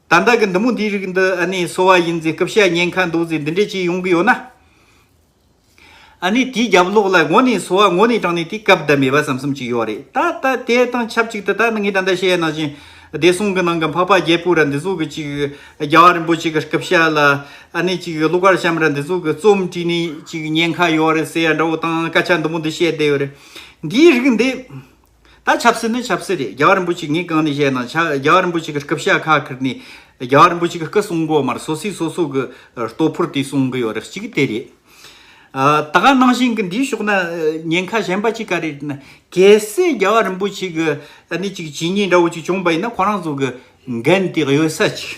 ད་ལྟ་གི་འདི་མོ་འདིའི་རིགས་འདི་ཨ་ནི་སོ་བ་ཡིན་ཚེ་སྐུ་བཤད་ཉན་ཁ་འདུག་ཚེ་འདི་འདྲས་ཅིག་ཡོང་གི་ཡོད་ན། ཨ་ནི་དེའི་རྒྱབ་ལོགས་ལ་ངོ་ནས་སོ་བ་ངོ་ནས་དྲངས་ནས་དེ་སྐབས་བསྡད་མེད་པ་ཟམ་གསུམ་ཅིག་ཡོད་རེད་ད་ལྟ་དེ་དང་ཆབས་ཅིག་ཏུ་ད་ནི་ངས་ད་ལྟ་བཤད་ཡ་ན་བཞིན་བདེ་སྲུང་གི་ནང་གི་འཕགས་པ་རྒྱལ་པོ་ར་འདི་ཟུག་གི་ཅིག་རྒྱལ་བ་རིན་པོ་ཆེ་གི་སྐུ་བཤད་ལ་ཨ་ནི་ཅིག་ཀླུ་མཁར་བྱམས་ར་འདི་ཟུག་གི་རྩོམ་བྲིས་ནས་ཅིག་ཉན་ཁ་ཡོད་རེད་ཟེར་ཡ་འདྲ་བོ་དང་སྐད་ཆ་འདི་མོ་འདི་བཤད་བསྡད་ཡོད་རེད་འདིའི་རིགས་འདི། ད་ཆབ་སྲིད་ནི་ཆབ་སྲིད་རེད་རྒྱལ་བ་རིན་པོ་ཆེ་ངས་གང་ནས་བཤད་ན་ཆ་རྒྱལ་བ་རིན་པོ་ཆེ་གི་སྐུ་ཕྱྭ་ཁ་ཁུར་ནས་རྒྱལ་བ་རིན་པོ་ཆེ་གི་སྐུ་སྲུང་དགོ་མར་སོ་སོས་སོ་སོ་གི་སྟོབས་ཕུར་དེ་སྲུང་གི་ཡོད་རེད་གཅིག་དེ་རེད། ད་ག་ནང་བཞིན་གི་འདིའི་ཕྱོགས་ན་ཉེན་ཁ་གཞན་པ་གཅིག་ག་རེད་ན་གལ་སྲིད་རྒྱལ་བ་རིན་པོ་ཆེ་གི་ནི་གཅིག་བྱས་ཉེས་འདྲ་བོ་གཅིག་བྱུང་པ་ཡིན་ན་ཁོ་རང་ཚོ་གི་འགན་དེ་གཡོལ་ས་གཅིག།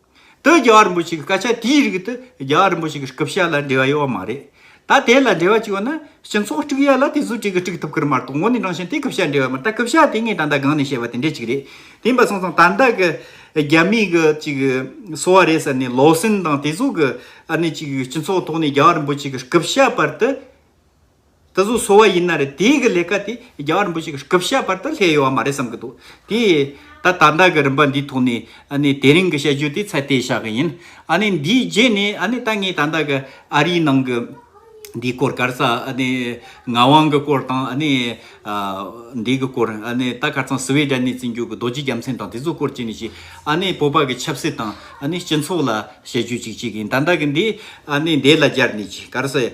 དུ་རྒྱལ་བ་རིན་པོ་ཆེ་གི་སྐད་ཆ་དེའི་རིགས་དུ་རྒྱལ་བ་རིན་པོ་ཆེ་གི་སྐུ་ཕྱྭ་ལ་འབྲེལ་བ་ཡོད་པ་མ་རེད། ད་དེ་ལ་འབྲེལ་བ་གཅིག་ཡོད་ན་སྤྱི་ཚོགས་དཀྲུགས་ཡ་ལ་དེ་ཚོ་གཅིག་གིས་དཀྲུགས་ཐུབ་ཀིར་མ་གཏོགས་ངོ་ནས་དྲང་ཞིང་དེ་སྐུ་ཕྱྭ་འབྲེལ་བ་མ་རེད་ད་སྐུ་ཕྱྭ་དེ་ངས་ད་ལྟ་སྒང་ནས་བཤད་པ་དེ་འདྲ་གཅིག་རེད་དེ་འབའ་སོང་ཙང་ད་ལྟ་གི་རྒྱ་མིའི་གི་གཅིག་གི་སོ་བ་རེད་ཟེར་ནས་ལོ་སིན་དང་དེ་ཚོ་གི་ཨ་ནི་གཅིག་སྤྱི་ཚོགས་ཐོག་ནས་རྒྱལ་བ་རིན་པོ་ཆེ་གི་སྐུ་ཕྱྭ་པར་དུ། ད་གཟུགས་གསོ་བ་ཡིན་ན་རེད་དེ་གི་ལས་ཀ་དེ་རྒྱ་བ་རིན་པོ་ཆེ་གི་སྐུ་བཤད་བར་དུ་སླེ་ཡོད་བ་མ་རེད་བསམ་གི་འདུག་དེ་ད་ད་ལྟ་གི་རིམ་པ་འདིའི་ཐོག་ནས་ཨ་ནི་དེ་རིང་གི་བཤད་རྒྱུ་དེ་ཚད་བལྟས་བཞག་གི་ཡིན་ཨ་ནི་འདིའི་རྗེས་ནས་ཨ་ནི་ད་ངས་ད་ལྟ་གི་ཨ་རིའི་ནང་གི་འདིའི་སྐོར་སྐར་ཚ་ཨ་ནི་ངག་དབང་གི་སྐོར་དང་ཨ་ནི་འདི་གི་སྐོར་ཨ་ནི་ད་ཁ་ཚང་སུའེ་ཏྲན་ནས་བརྩི་འཇོག་གི་རྡོ་རྗེ་རྒྱ་མཚན་དང་དེ་ཚོའི་སྐོར་བྱས་ནས་ཞིག་ཨ་ནི་བོད་པ་གི་ཆབ་སྲིད་དང་ཨ་ནི་སྤྱི་ཚོགས་ལ་བཤད་རྒྱུ་ཅིག་བྱེད་གི་ཡིན་ད་ལྟ་གི་འདི་ཨ་ནི་འདས་ལ་སྦྱར་ནས་ཅིག་སྐར་ཚ